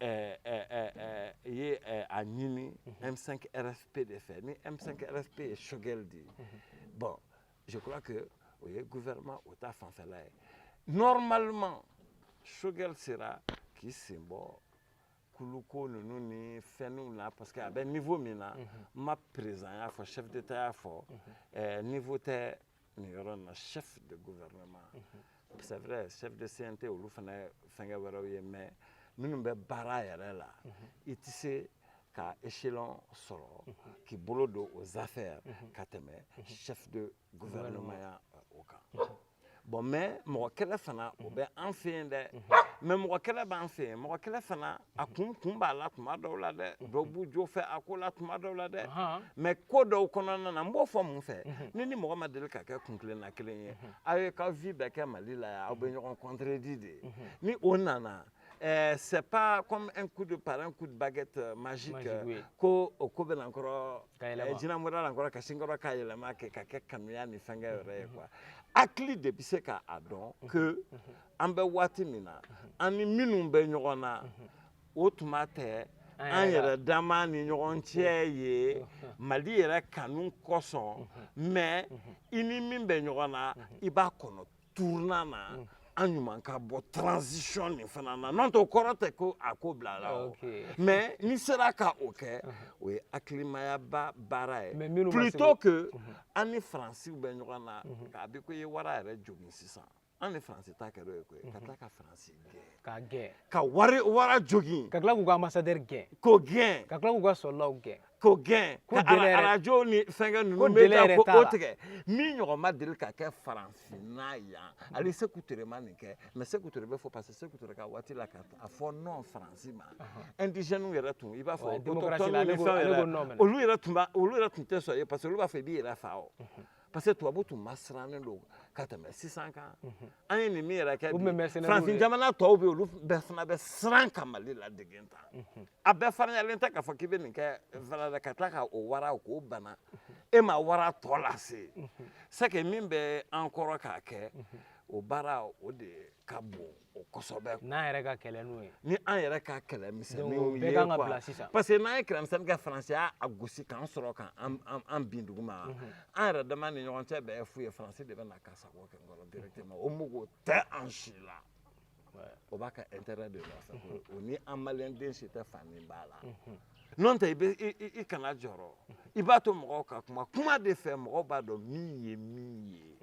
ɛɛ ɛɛ ɛɛ i ye ɛɛ a ɲini M5 RFP de fɛ ni M5 RFP ye Choguel di bon je crois que o ye gouvernement o ta fanfɛla ye normalement Choguel sera k'i sen bɔ kuluko ninnu ni fɛnw na parce que a bɛ niveau min na n ma président y'a fɔ chef d'état y'a fɔ ɛɛ niveau tɛ nin yɔrɔ in na chef de gouvernement c'est vrai chef de CNT olu fana ye fɛnkɛ wɛrɛw ye mais minnu bɛ baara yɛrɛ la i tɛ se ka échelon sɔrɔ k'i bolo don aux affaires ka tɛmɛ chef de gouvernement ya o kan bon mais mɔgɔ kɛlɛ fana o bɛ an fɛ yen dɛ mais mɔgɔ kɛlɛ b'an fɛ yen mɔgɔ kɛlɛ fana a kun kun b'a la tuma dɔw la dɛ dɔw b'u jo fɛ a ko la tuma dɔw la dɛ mais ko dɔw kɔnɔna na n b'o fɔ mun fɛ ni ni mɔgɔ ma deli ka kɛ kuntilenna kelen ye aw ye ka vie bɛɛ kɛ mali la yan aw bɛ ɲɔgɔn contredit de ni o nana Euh, c'est pas comme un coup de par un coup de baguette euh, magique, magique euh, oui. ko o ko bɛna nkɔrɔ eh, jinɛmoriya la nkɔrɔ ka sin nkɔrɔ k'a yɛlɛma kɛ ka kɛ kanuya ni fɛnkɛ yɛrɛ ye quoi hakili de bɛ se k'a dɔn que an bɛ waati min na an ni minnu bɛ ɲɔgɔn na o tuma tɛ an yɛrɛ dama ni ɲɔgɔn cɛ ye mali yɛrɛ kanu kosɔn mais i ni min bɛ ɲɔgɔn na i b'a kɔnɔ tournant na an ɲuman ka bɔ transition nin fana na n'o tɛ o kɔrɔ tɛ ko a ko bila la o mais n'i sera ka o kɛ o ye hakilimayaba baara ye plutôt que an ni faransiw bɛ ɲɔgɔn na k'a bi ko i ye wara yɛrɛ jogin sisan an ni faransi ta kɛra o ye koyi ka tila ka faransi gɛn k'a gɛn ka wari wara jogin ka tila k'u ka ambassadeur gɛn k'o gɛn ka tila k'u ka soldatw gɛn k'o gɛn Ko ka dɛlɛ yɛrɛ- arajo ni fɛnkɛ ninnu Ko bɛ dɛlɛ yɛrɛ ka t'a ko o la. tigɛ min ɲɔgɔn ma deli ka kɛ farafinna yan ale seku ture ma nin kɛ mais seku ture bɛ fɔ parce que seku ture ka waati la ka a fɔ non faransi ma indigènew yɛrɛ tun i b'a fɔ Ouais, démocratie la, autochtones ale ni b'o- fɛnw ale yɛrɛ, b'o nɔ minɛ. olu yɛrɛ tun b'a olu yɛrɛ tun tɛ sɔn ye parce que olu b'a fɔ i b'i yɛrɛ fa o parce que tubabu tun masirannen don ka tɛmɛ sisan kan mhm. an ye nin min yɛrɛ kɛ farafin jamana tɔw bɛ olu bɛɛ fana bɛ siran ka mali ladege tan mhm. a bɛɛ farinyalen tɛ k'a fɔ k'i bɛ nin kɛ fana ka tila ka o wara k'o bana mhm. e ma wara tɔ lase c'est que min bɛ an kɔrɔ k'a kɛ o baara o de ka bon o kosɛbɛ n'an yɛrɛ ka kɛlɛ n'o ye ni an yɛrɛ ka kɛlɛ misɛnninw ye bɛɛ kan ka bila sisan parce que n'an ye kɛlɛmisɛnnin kɛ faransi y'a gosi k'an sɔrɔ ka an bin duguma mhm. an yɛrɛ dama ni ɲɔgɔn cɛ bɛɛ fu ye faransi de bɛ na ka sago kɛ an kɔrɔ directement o mago tɛ an si la o b'a ka intérêt de lasago mhm. o ni an maliyɛn den si tɛ fan min b'a la mhm. n'o tɛ i bɛ i kana jɔrɔ i b'a to mɔgɔw ka kuma kuma de fɛ mɔgɔw b'a dɔn min ye min ye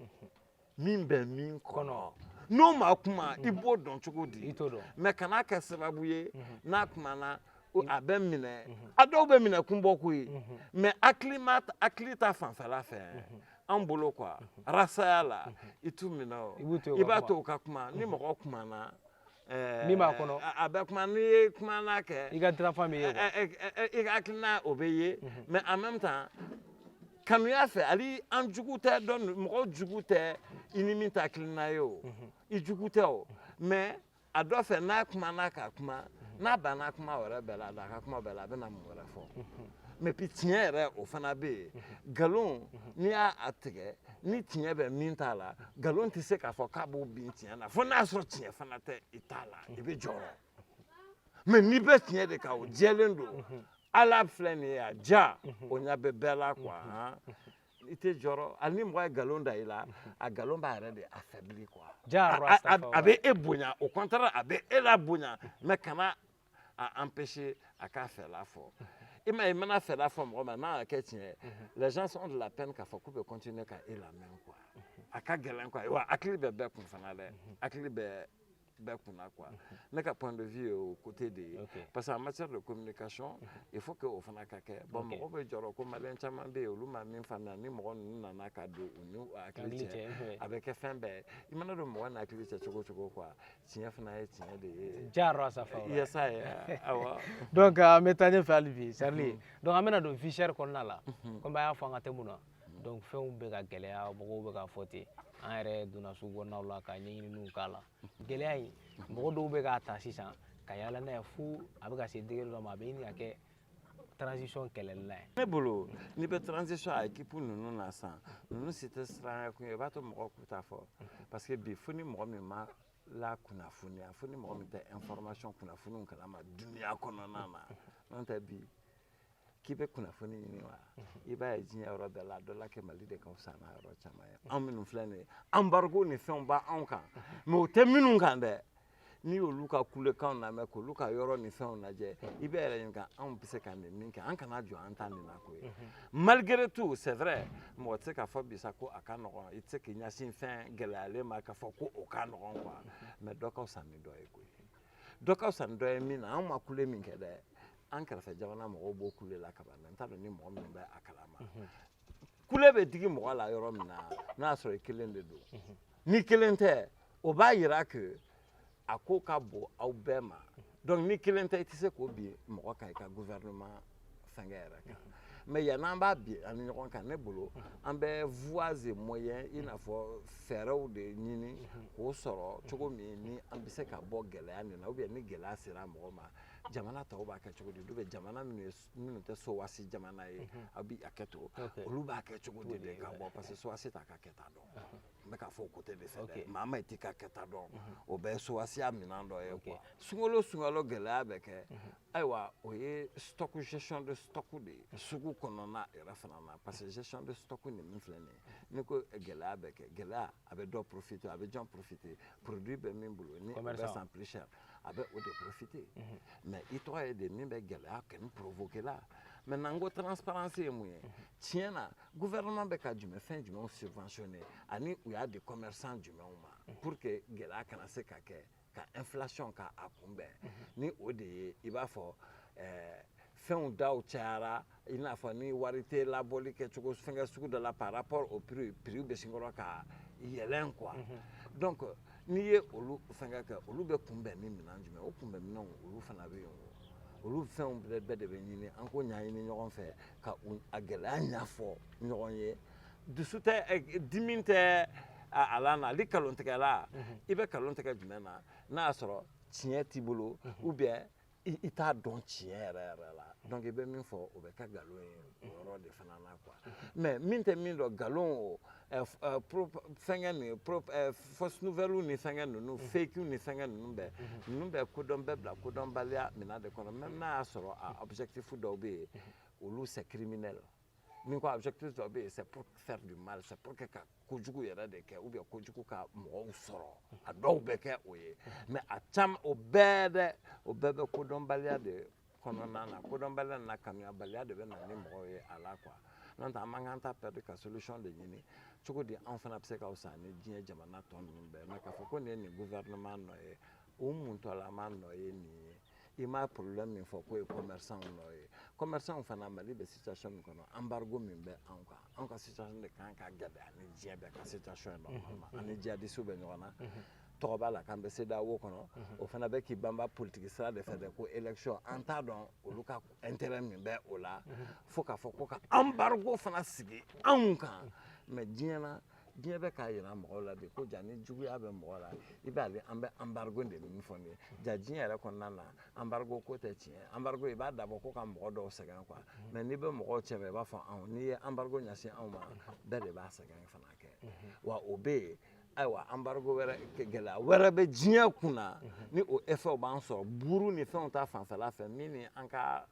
min bɛ min kɔnɔ n'o ma kuma i b'o dɔn cogo di mais kana kɛ sababu ye mhm. n'a kumana a bɛ minɛ mhm. a dɔw bɛ minɛ kun bɔ koyi mais mhm. hakili ta fanfɛla fɛ an bolo quoi rasaya la i t'u minɛ o i b'a to u ka kuma ni mɔgɔ kumana eh, min b'a kɔnɔ a bɛ kuma n'i ye kuma n'a kɛ i ka dirafa bɛ ye eh, eh, i ka hakilina o bɛ ye mais en même temps kanuya fɛ ali an jugu tɛ dɔ mɔgɔ jugu tɛ i ni min t'a kelen na ye o mhm. i jugu tɛ o mais a dɔ fɛ n'a kumana ka kuma mhm. n'a banna kuma wɛrɛ bɛɛ la a ka kuma bɛɛ la a bɛna mun wɛrɛ fɔ mhm. mais puis tiɲɛ yɛrɛ o fana bɛ yen nkalon n'i y'a a tigɛ ni tiɲɛ bɛ min t'a la nkalon tɛ se k'a fɔ k'a b'o bin tiɲɛ na fo n'a sɔrɔ tiɲɛ fana tɛ i t'a la i bɛ jɔrɔ mais n'i bɛ tiɲɛ de kan o jɛlen don ala filɛ nin ye a ja o ɲa bɛ bɛɛ la quoi i tɛ jɔrɔ hali ni mɔgɔ ye nkalon da i la a nkalon b'a yɛrɛ de affaiblir quoi a bɛ e bonya au contraire a bɛ e la bonya mais kana a empêcher a k'a fɛla fɔ i ma ye i mana fɛla fɔ mɔgɔ ma n'a y'a kɛ tiɲɛ ye les gens ont de la peine k'a fɔ k'u bɛ continuer ka e lamɛn quoi a ka gɛlɛn quoi wa hakili bɛ bɛɛ kun fana dɛ hakili bɛ bɛɛ kunna quoi ne ka point de vue o côté de ye parce que en matière de communication il faut que o fana ka kɛ bon mɔgɔ bɛ jɔrɔ ko maliyɛn caman bɛ yen olu ma min faamuya ni mɔgɔ ninnu nana ka don u n'u hakili cɛ a bɛ kɛ fɛn bɛɛ i mana don mɔgɔ n'a hakili cɛ cogo cogo quoi tiɲɛ fana ye tiɲɛ de ye jaarɔ sa fa yasa ye awɔ donc an bɛ taa ɲɛfɛ hali bi Charly donc an bɛna don vie chère kɔnɔna la komi an y'a fɔ an ka thème na donc fɛnw bɛ ka gɛlɛya mɔgɔw bɛ ka fɔ ten an yɛrɛ donna sugu kɔnɔnaw la ka ɲɛɲininiw k'a la gɛlɛya in mɔgɔ dɔw bɛ k'a ta sisan ka yaala n'a ye fo a bɛ ka se degré dɔ ma a bɛ ɲini ka kɛ transition kɛlɛlila ye ne bolo n'i bɛ transition a équipe ninnu na sisan ninnu si tɛ siranya kun ye i b'a to mɔgɔw k'u ta fɔ parce que bi fo ni mɔgɔ min ma lakunnafoniya fo ni mɔgɔ min tɛ information kunnafoniw kalama duniya kɔnɔna na n'o tɛ bi k'i bɛ kunnafoni ɲini wa i b'a ye diɲɛ yɔrɔ bɛɛ la dɔ la kɛ mali de ka fisa n'a yɔrɔ caman ye anw minnu filɛ nin ye embargo ni fɛnw b'anw kan mais o tɛ minnu kan dɛ n'i y'olu ka kulekanw lamɛn k'olu ka yɔrɔ ni fɛnw lajɛ i b'i yɛrɛ ɲininka anw bɛ se ka nin min kɛ an kana jɔ an ta nin na ko ye malgré tout c'est vrai mɔgɔ tɛ se k'a fɔ bi sa ko a ka nɔgɔn i tɛ se k'i ɲɛsin fɛn gɛlɛyalen ma k'a fɔ ko o ka nɔgɔn quoi mais dɔ ka fisa ni dɔ ye koyi dɔ ka fisa ni dɔ ye min na anw ma kule min kɛ dɛ an kɛrɛfɛ jamana mɔgɔw b'o kule la kaban n t'a dɔn ni mɔgɔ min bɛ a kalama kule bɛ digi mɔgɔ la yɔrɔ min na n'a y'a sɔrɔ i kelen de don ni kelen tɛ o b'a yira que a ko ka bon aw bɛɛ ma donc ni kelen tɛ i tɛ se k'o bin mɔgɔ kan i ka gouvernement fɛnkɛ yɛrɛ kan mais yann'an b'a bin an ni ɲɔgɔn kan ne bolo an bɛ voies et moyens i n'a fɔ fɛɛrɛw de ɲini k'o sɔrɔ cogo min ni an bɛ se ka bɔ gɛlɛya nin na ou bien ni gɛlɛya sera mɔgɔ ma jamana tɔw b'a kɛ cogo di ou bien jamana minnu ye minnu tɛ sowasi jamana ye mhm. a bɛ a kɛ to olu b'a kɛ cogo di de ka bɔ parce que sowasi t'a ka kɛta dɔn mhm. n bɛ k'a fɔ o côté de fɛ dɛ maa ma t'i ka kɛta dɔn mhm. o bɛɛ ye sowasiya minɛn dɔ ye quoi sunkalo sunkalo gɛlɛya bɛ kɛ ayiwa o ye stock gestion de stock de ye sugu kɔnɔna yɛrɛ fana na parce que gestion de stock nin min filɛ nin ye n'i ko gɛlɛya bɛ kɛ gɛlɛya a bɛ dɔ profiter a bɛ jɔn profiter produit bɛ min bolo ni o bɛ san plus cher a bɛ o de profiter mais i tɔgɔ ye de min bɛ gɛlɛya kɛni provoquer la maintenant n ko transparence ye mun ye tiɲɛ na gouvernement bɛ ka jumɛn fɛn jumɛnw subventionner ani u y'a di commerçant jumɛnw ma pour que gɛlɛya kana se ka kɛ ka inflation ka a kunbɛn ni o de ye i b'a fɔ ɛɛ fɛnw da cayara i n'a fɔ ni wari tɛ laboli kɛ cogo fɛnkɛ sugu dɔ la par rapport au prix prix bɛ sin kɔrɔ ka yɛlɛn quoi mhm. donc n'i ye olu fɛnkɛ kɛ olu bɛ kunbɛn ni minɛn jumɛn o kunbɛn minɛnw olu fana bɛ yen o olu fɛnw bɛɛ bɛɛ de bɛ ɲini an k'o ɲɛɲini ɲɔgɔn fɛ ka a gɛlɛya ɲɛfɔ ɲɔgɔn ye dusu tɛ eh, dimi tɛ a la na hali kalontigɛla mhm. i bɛ kalon tigɛ jumɛn na n'a y'a sɔrɔ tiɲɛ t'i bolo mhm. ou bien i t'a dɔn tiɲɛ yɛrɛ yɛrɛ la donc i bɛ min fɔ o bɛ kɛ nkalon ye o yɔrɔ de fana na quoi mais min tɛ min dɔn nkalon o fɛnkɛ nin fausse nouvelle ni fɛnkɛ ninnu fake ni fɛnkɛ ninnu bɛɛ ninnu bɛɛ kodɔn bɛ bila kodɔnbaliya minɛn de kɔnɔ même n'a y'a sɔrɔ a objectif dɔw bɛ yen olu c'est criminel n'i ko objectif dɔ bɛ yen c'est pour faire du mal c'est pour que ka kojugu yɛrɛ de kɛ ou bien kojugu ka mɔgɔw sɔrɔ a dɔw bɛ kɛ o ye mais a caman o bɛɛ dɛ o bɛɛ bɛ kodɔnbaliya de kɔnɔna na kodɔnbaliya n'a faamuyabaliya de bɛ na ni mɔgɔw ye a la quoi n'o tɛ an man kan temps perdre ka solution de ɲini cogo di anw fana bɛ se ka fisa ni diɲɛ jamana tɔ ninnu bɛɛ mais k'a fɔ ko nin ye nin gouvernement nɔ ye o muntɔlama nɔ ye nin ye i ma problème min fɔ k'o ye commerçantw nɔ ye commerçant fana mali bɛ situation min kɔnɔ embargo min bɛ anw kan anw ka situation de kan ka gɛlɛya ani diɲɛ bɛɛ ka situation ye normalement ani jihadistes bɛ ɲɔgɔn na tɔgɔ b'a la k'an bɛ CEDEAO kɔnɔ o fana bɛ k'i banba politigi sira de fɛ dɛ ko élection an t'a dɔn olu ka intérêt min bɛ o la fo k'a fɔ ko ka embargo fana sigi anw kan mais diɲɛ na diɲɛ bɛ k'a yira mɔgɔw la de ko ja nijuguya bɛ mɔgɔ la i b'ale an bɛ embargo de min fɔ nin ye ja diɲɛ yɛrɛ kɔnɔna na embargo ko tɛ tiɲɛ embargo i b'a dabɔ ko ka mɔgɔ dɔw sɛgɛn quoi mm-hmm. mais n'i bɛ mɔgɔw cɛ i b'a fɔ anw n'i ye embargo ɲɛsin anw ma mm-hmm. bɛɛ de b'a sɛgɛn fana kɛ mm-hmm. wa o bɛ yen ayiwa embargo wɛrɛ gɛlɛya wɛrɛ bɛ diɲɛ kun na ni o effet b'an sɔrɔ buru ni fɛnw ta fanfɛla fɛ min ni an ka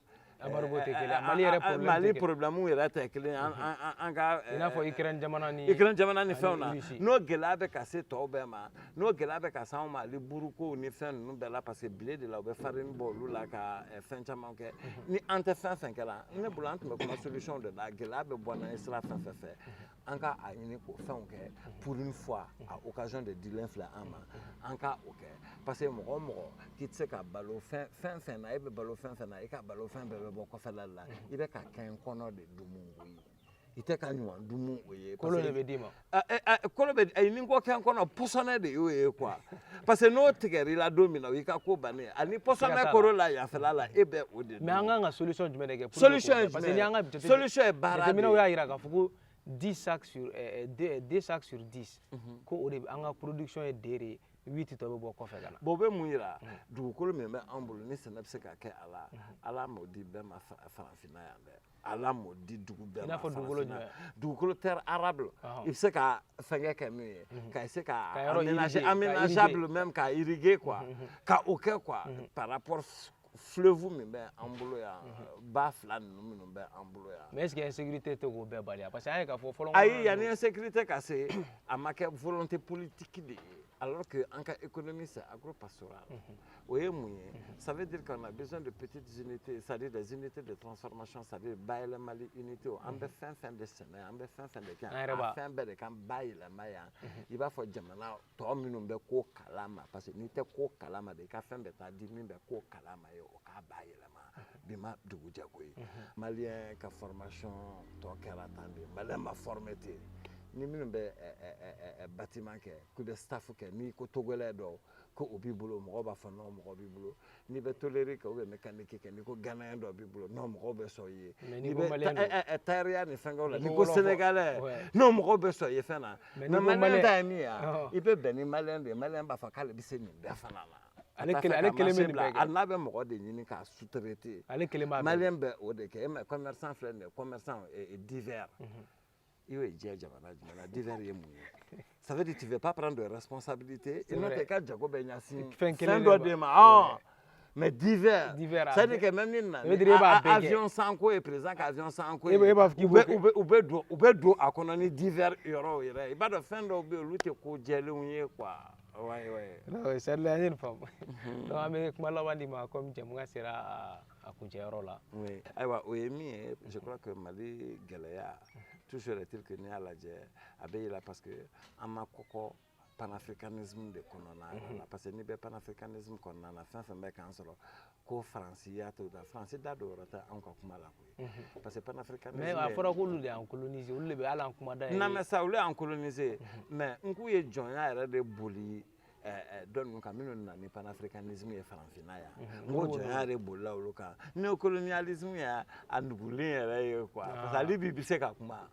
problème yɛrɛ tɛ kelen an ka i n'a fɔ Ukraine jamana ni fɛnw na n'o gɛlɛya bɛ ka se tɔw bɛɛ ma n'o gɛlɛya bɛ ka se anw ma hali buruko ni fɛn ninnu bɛɛ la parce que blé de la u bɛ farine bɔ olu la ka fɛn caman kɛ ni an tɛ fɛn fɛn kɛla ne bolo an tun bɛ kuma solution de la gɛlɛya bɛ bɔ n'an ye sira fɛn fɛn fɛ an ka a ɲini k'o fɛnw kɛ pour une fois a occasion de dilen filɛ an ma an ka o kɛ parce que mɔgɔ o mɔgɔ k'i tɛ se ka balo fɛn fɛn na e bɛ balo fɛn fɛn na i ka balo fɛn bɛɛ bɛ bɔ kɔfɛla la i bɛ ka kɛnkɔnɔ de dumu o ye i tɛ ka ɲuman dumu o ye kolon de bɛ d'i ma kolon bɛ ayi n'i ko kɛnkɔnɔ pɔsɔnɛ de y'o ye quoi parce que n'o tigɛra i la don min na o y'i ka ko bannen ani pɔsɔnɛ koro la yanfɛla la e bɛ o de mais an kan ka solution jumɛn de kɛ solution ye jumɛn ye solution ye baara de ye jateminɛw y'a jira k'a fɔ ko 10 sacs sur eh, eh, deux, eh, deux sacs sur 10 mhm. ko o de an ka production ye deux de ye huit tɔ bɛ bɔ kɔfɛ ka na bon o bɛ mun yira mhm. dugukolo min bɛ an bolo ni sɛnɛ bɛ se ka kɛ a la mhm. ala m'o di bɛɛ ma farafinna yan dɛ ala m'o di dugu bɛɛ ma dugukolo jumɛn dugukolo terre arable i bɛ se ka fɛnkɛ kɛ min ye mhm. ka se ka aménager aménageable même ka irriguer quoi mhm, mhm. ka o kɛ quoi par rapport fleuve min bɛ an bolo yan ba fila ninnu minnu bɛ an bolo yan mais est ce que insécurité tɛ k'o bɛɛ bali parce que an ye k'a fɔ fɔlɔ ayi yanni insécurité ka se a ma kɛ volonté politique de ye alors que an ka économie c'est agro pastoral O ye mun ye ça veut dire qu'on a besoin de petites unités c'est à dire des unités de transformation c'est à dire bayɛlɛmali unités an bɛ fɛn fɛn de sɛnɛ an bɛ fɛn fɛn de kɛ a fɛn bɛɛ de kan bayɛlɛma yan i b'a fɔ jamana tɔ minnu bɛ ko kalama parce que n'i tɛ ko kalama de i ka fɛn bɛɛ taa di min bɛ ko kalama ye o k'a bayɛlɛma bi ma dugu jɛ ko ye Malien ka formation tɔ kɛra tan de Malien ma former ten ni minnu bɛ bâtiment kɛ k'u bɛ staff kɛ n'i ko Togolais dɔw ko o b'i bolo mɔgɔw b'a fɔ nɔn mɔgɔ b'i bolo n'i bɛ toleri kɛ ubiyɛn mekaniki kɛ n'i ko ganaya dɔ b'i bolo nɔn mɔgɔw bɛ sɔn i ye n'i bɛ tayɛriya ni fɛnkɛw la n'i ko senegalɛ nɔn mɔgɔw bɛ sɔn i ye fɛn na mɛ maliyɛn ta ye min ye i bɛ bɛn ni maliyɛn de ye maliyɛn b'a fɔ k'ale bɛ se nin bɛɛ fana la ale kelen ale kelen bɛ nin bɛɛ kɛ hali n'a bɛ mɔgɔ de ɲini k'a sous-traiter ale kelen b'a maliyɛn bɛ o de kɛ mɛ commerçant filɛ nin ye commerçant divers i y'o ye jamana jumɛn na divers ye mun ye ça veut dire tu veux pas prendre de responsabilité i n'o tɛ i ka jago bɛ ɲɛsin fɛn kelen dɔ de ma mais divers c'est à dire que même ni na avion sanko ye président ka avion sanko ye u bɛ u bɛ don u bɛ don a kɔnɔ ni divers yɔrɔw yɛrɛ i b'a dɔn fɛn dɔw bɛ yen olu tɛ ko jɛlenw ye quoi wayi wayi sarila an ye nin faamu donc an bɛ kuma laban d'i ma comme jɛmukan sera a kuncɛyɔrɔ la ayiwa o ye min ye je crois que mali gɛlɛya toujours est-il que n'i y'a lajɛ a bɛ yɛlɛ parce que an ma kɔkɔ panafricanisme de kɔnɔna la mhm. parce que n'i bɛ panafricanisme kɔnɔna na fɛn fɛn bɛ k'an sɔrɔ ko faransi y'a to da faransi da don yɔrɔ tɛ anw ka kuma la koyi mhm. parce que panafricanisme mais a fɔra k'olu de y'an coloniser olu de bɛ hali an kuma da yɛrɛ na mais ça olu y'an coloniser mhm. mais n k'u ye jɔnya yɛrɛ de boli dɔ ninnu kan minnu nana ni panafricanisme ye farafinna yan n ko jɔnya de bolila olu kan neokoloniyalisme y'a a nugulen yɛrɛ ye quoi parce que ale bi bɛ se ka kuma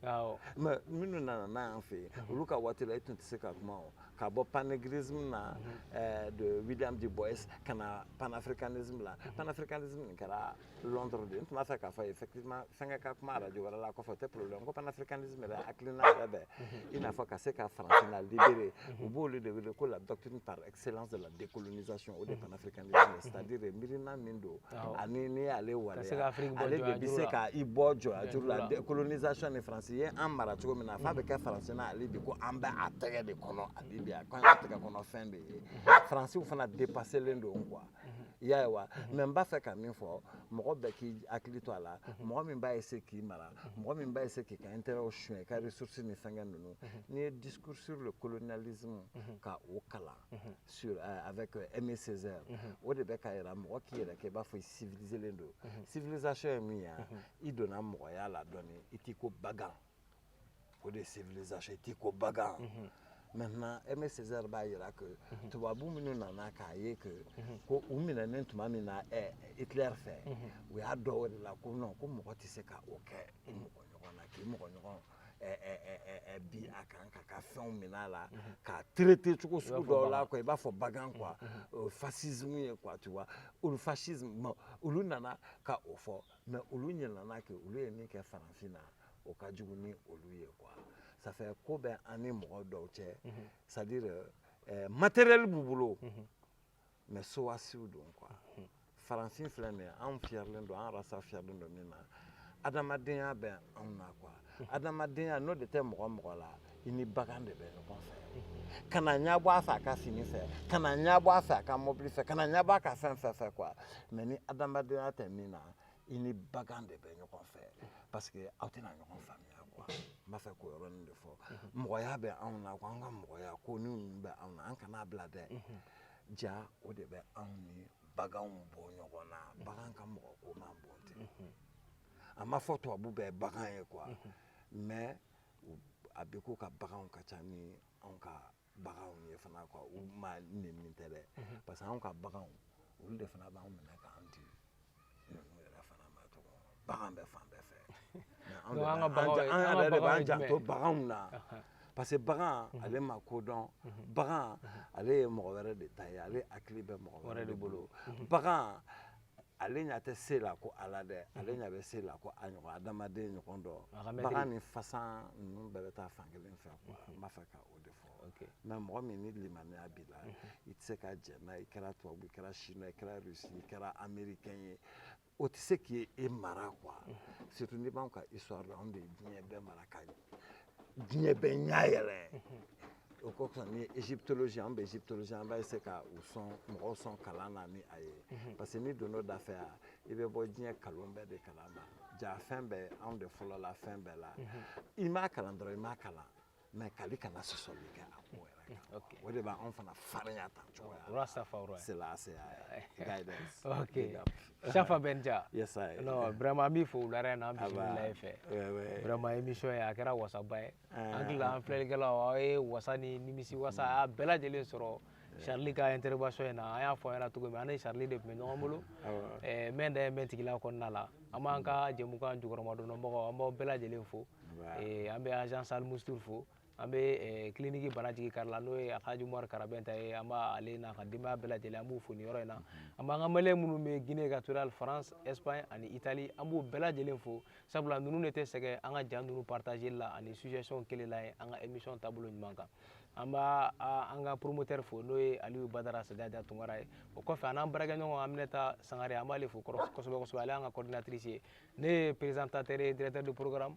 mais minnu nana n'a y'an fɛ yen olu ka waati la e tun tɛ se ka kuma o ka bɔ panegrisme na de William Du Bois ka na panafricanisme la panafricanisme nin kɛra Londres de n tun b'a fɛ k'a fɔ ye effectivement fɛnkɛ ka kuma radio wɛrɛ la kɔfɛ o tɛ problème ko panafricanisme yɛrɛ hakilina yɛrɛ bɛ i n'a fɔ ka se ka farafinna libérer u b'olu de wele ko la doctrine par excellence de la décolonisation o de ye panafricanisme ye c'est à dire miirina min don ani n'i y'ale waleya ale de bɛ se ka i bɔ jɔnyajuru la décolonisation ni France ye an mara cogo min na f'a bɛ kɛ France na hali bi ko an bɛ a tɛgɛ de kɔnɔ hali bi a k'an ka tɛgɛ kɔnɔ fɛn de ye Fransiw fana dépassélen don quoi i y'a ye wa mɛ n b'a fɛ ka min fɔ mɔgɔ bɛɛ k'i hakili to a la mɔgɔ min b'a essayer k'i mara mɔgɔ min b'a essayer k'i ka intérêtw suɲɛ i ka ressources ni fɛnkɛ ninnu n'i ye discours sur le colonialisme ka o kalan sur euh, avec euh, Aimé Césaire o de bɛ k'a yira mɔgɔ k'i yɛrɛ kɛ i b'a fɔ i civiliselen don civilisation ye min ye i donna mɔgɔya la dɔɔni i t'i ko bagan o de ye civilisation i t'i ko bagan mhm. maintenant Aimé Césaire b'a yira que mhm. tubabu minnu nana k'a ye que mhm. ko u minɛnen tuma min na eh, hitler fɛ u y'a dɔn o de la ko non ko mɔgɔ tɛ se ka o kɛ i mɔgɔ ɲɔgɔn na k'i mɔgɔ ɲɔgɔn bin a kan k'a ka fɛnw minɛ a la k'a traiter cogo sugu dɔw la quoi i b'a fɔ bagan quoi fascisme ye quoi tu vois olu fascisme olu nana ka o fɔ mais olu ɲɛlana ke olu ye min kɛ farafin na o ka jugu ni olu ye quoi ça fait ko bɛ an ni mɔgɔ dɔw cɛ c'est-à-dire eh, matériel b'u bolo mais sowasiw don quoi farafin filɛ nin ye anw fiyɛrilen don an rasa fiyɛrilen don min na adamadenya bɛ anw na quoi adamadenya n'o de tɛ mɔgɔ mɔgɔ la i ni bagan de bɛ ɲɔgɔn fɛ kana ɲɛbɔ a fɛ a ka fini fɛ kana ɲɛbɔ a fɛ a ka mɔbili fɛ kana ɲɛbɔ a ka fɛn fɛn fɛ quoi mais ni adamadenya tɛ min na i ni bagan de bɛ ɲɔgɔn fɛ parce que aw tɛna ɲɔgɔn faamuya quoi n b'a fɛ k'o yɔrɔnin de fɔ mɔgɔya bɛ anw na quoi an ka mɔgɔya ko ni ninnu bɛ anw na an kana bila dɛ ja o de bɛ anw ni baganw bɔ ɲɔgɔn na bagan ka mɔgɔ ko man bon tɛ a ma fɔ tubabu bɛɛ bagan ye quoi mais a b'i ko u ka baganw ka ca ni anw ka baganw ye fana quoi u ma nenni tɛ dɛ mhm. parce que anw ka baganw olu de fana b'anw minɛ k'an di ninnu yɛrɛ fana ma tɔgɔ bagan bɛ fan bɛɛ fɛ an yɛrɛ de b'an janto baganw na parce que bagan mhm. ale ma ko dɔn mhm. bagan ale ye mɔgɔ wɛrɛ de ta ye ale hakili bɛ mɔgɔ wɛrɛ de bolo bagan ale ɲa tɛ se la ko ala dɛ ale ɲa bɛ se la ko a ɲɔgɔn adamaden ɲɔgɔn dɔ bagan ni fasan ninnu bɛɛ bɛ taa fan kelen fɛ quoi mhm. n b'a fɛ ka o de fɔ mais mɔgɔ min ni limaniya b'i la mhm. i tɛ se ka jɛ n'a i kɛra tubabu i kɛra chinois i kɛra russie i kɛra américain ye o tɛ se k'i e mara quoi mhm. surtout n'i b'anw ka histoire la anw de ye diɲɛ bɛɛ mara ka diɲɛ bɛɛ ɲa yɛlɛ o ko kɔsɔn ni egyptologie an bɛ egyptologie an b'a essayer ka u sɔn mɔgɔw sɔn kalan na ni a ye mhm. parce que n'i donn'o da fɛ yan i bɛ bɔ diɲɛ kalon bɛɛ de kalama ja fɛn bɛɛ anw de fɔlɔla fɛn bɛɛ la mhm. i m'a kalan dɔrɔn i m'a kalan mais kali kana sɔsɔli kɛ a ko la okay. o de bɛ anw fana farinya tan cogoya la. Safa Roy. Selassie guidance. okay. Safa Benja. Yes, I. Non, vraiment an b'i fo wulada in na an bisimila i fɛ. Vraiment émission in a kɛra wasaba ye. An hakili la an filɛlikɛlaw aw ye wasa ni nimisi wasa a bɛɛ lajɛlen sɔrɔ. Charlie ka intervention in na an y'a fɔ a ɲɛna cogo min an ni Charlie de tun bɛ ɲɔgɔn bolo eh, mɛn da ye mɛn tigila kɔnɔna la an b'an ka jɛmukan jukɔrɔmadonnabagaw an b'aw bɛɛ lajɛlen fo eh, an bɛ agence Al Moustur fo. an bɛ eh, kiliniki bana jigi kari la n'o ye alhaji umaru karabɛnta ye an b'ale n'a ka denbaya bɛɛ lajɛlen an b'u fo nin yɔrɔ in na an b'an ka maliyɛn minnu bɛ guinee equatoriale france espagne ani italie an b'u bɛɛ lajɛlen fo sabula ninnu de tɛ sɛgɛn an ka ja ninnu partageli la ani suggestion kɛli la ye an ka émission taabolo ɲuman kan an b'a an ka promoteur fo n'o ye aliyu badara sadada tunkara ye o kɔfɛ an n'an baarakɛɲɔgɔn aminata sangare an b'ale fo kosɛbɛ kosɛbɛ ale y'an ka coordinatrice ye ne ye présentateur ye directeur de programme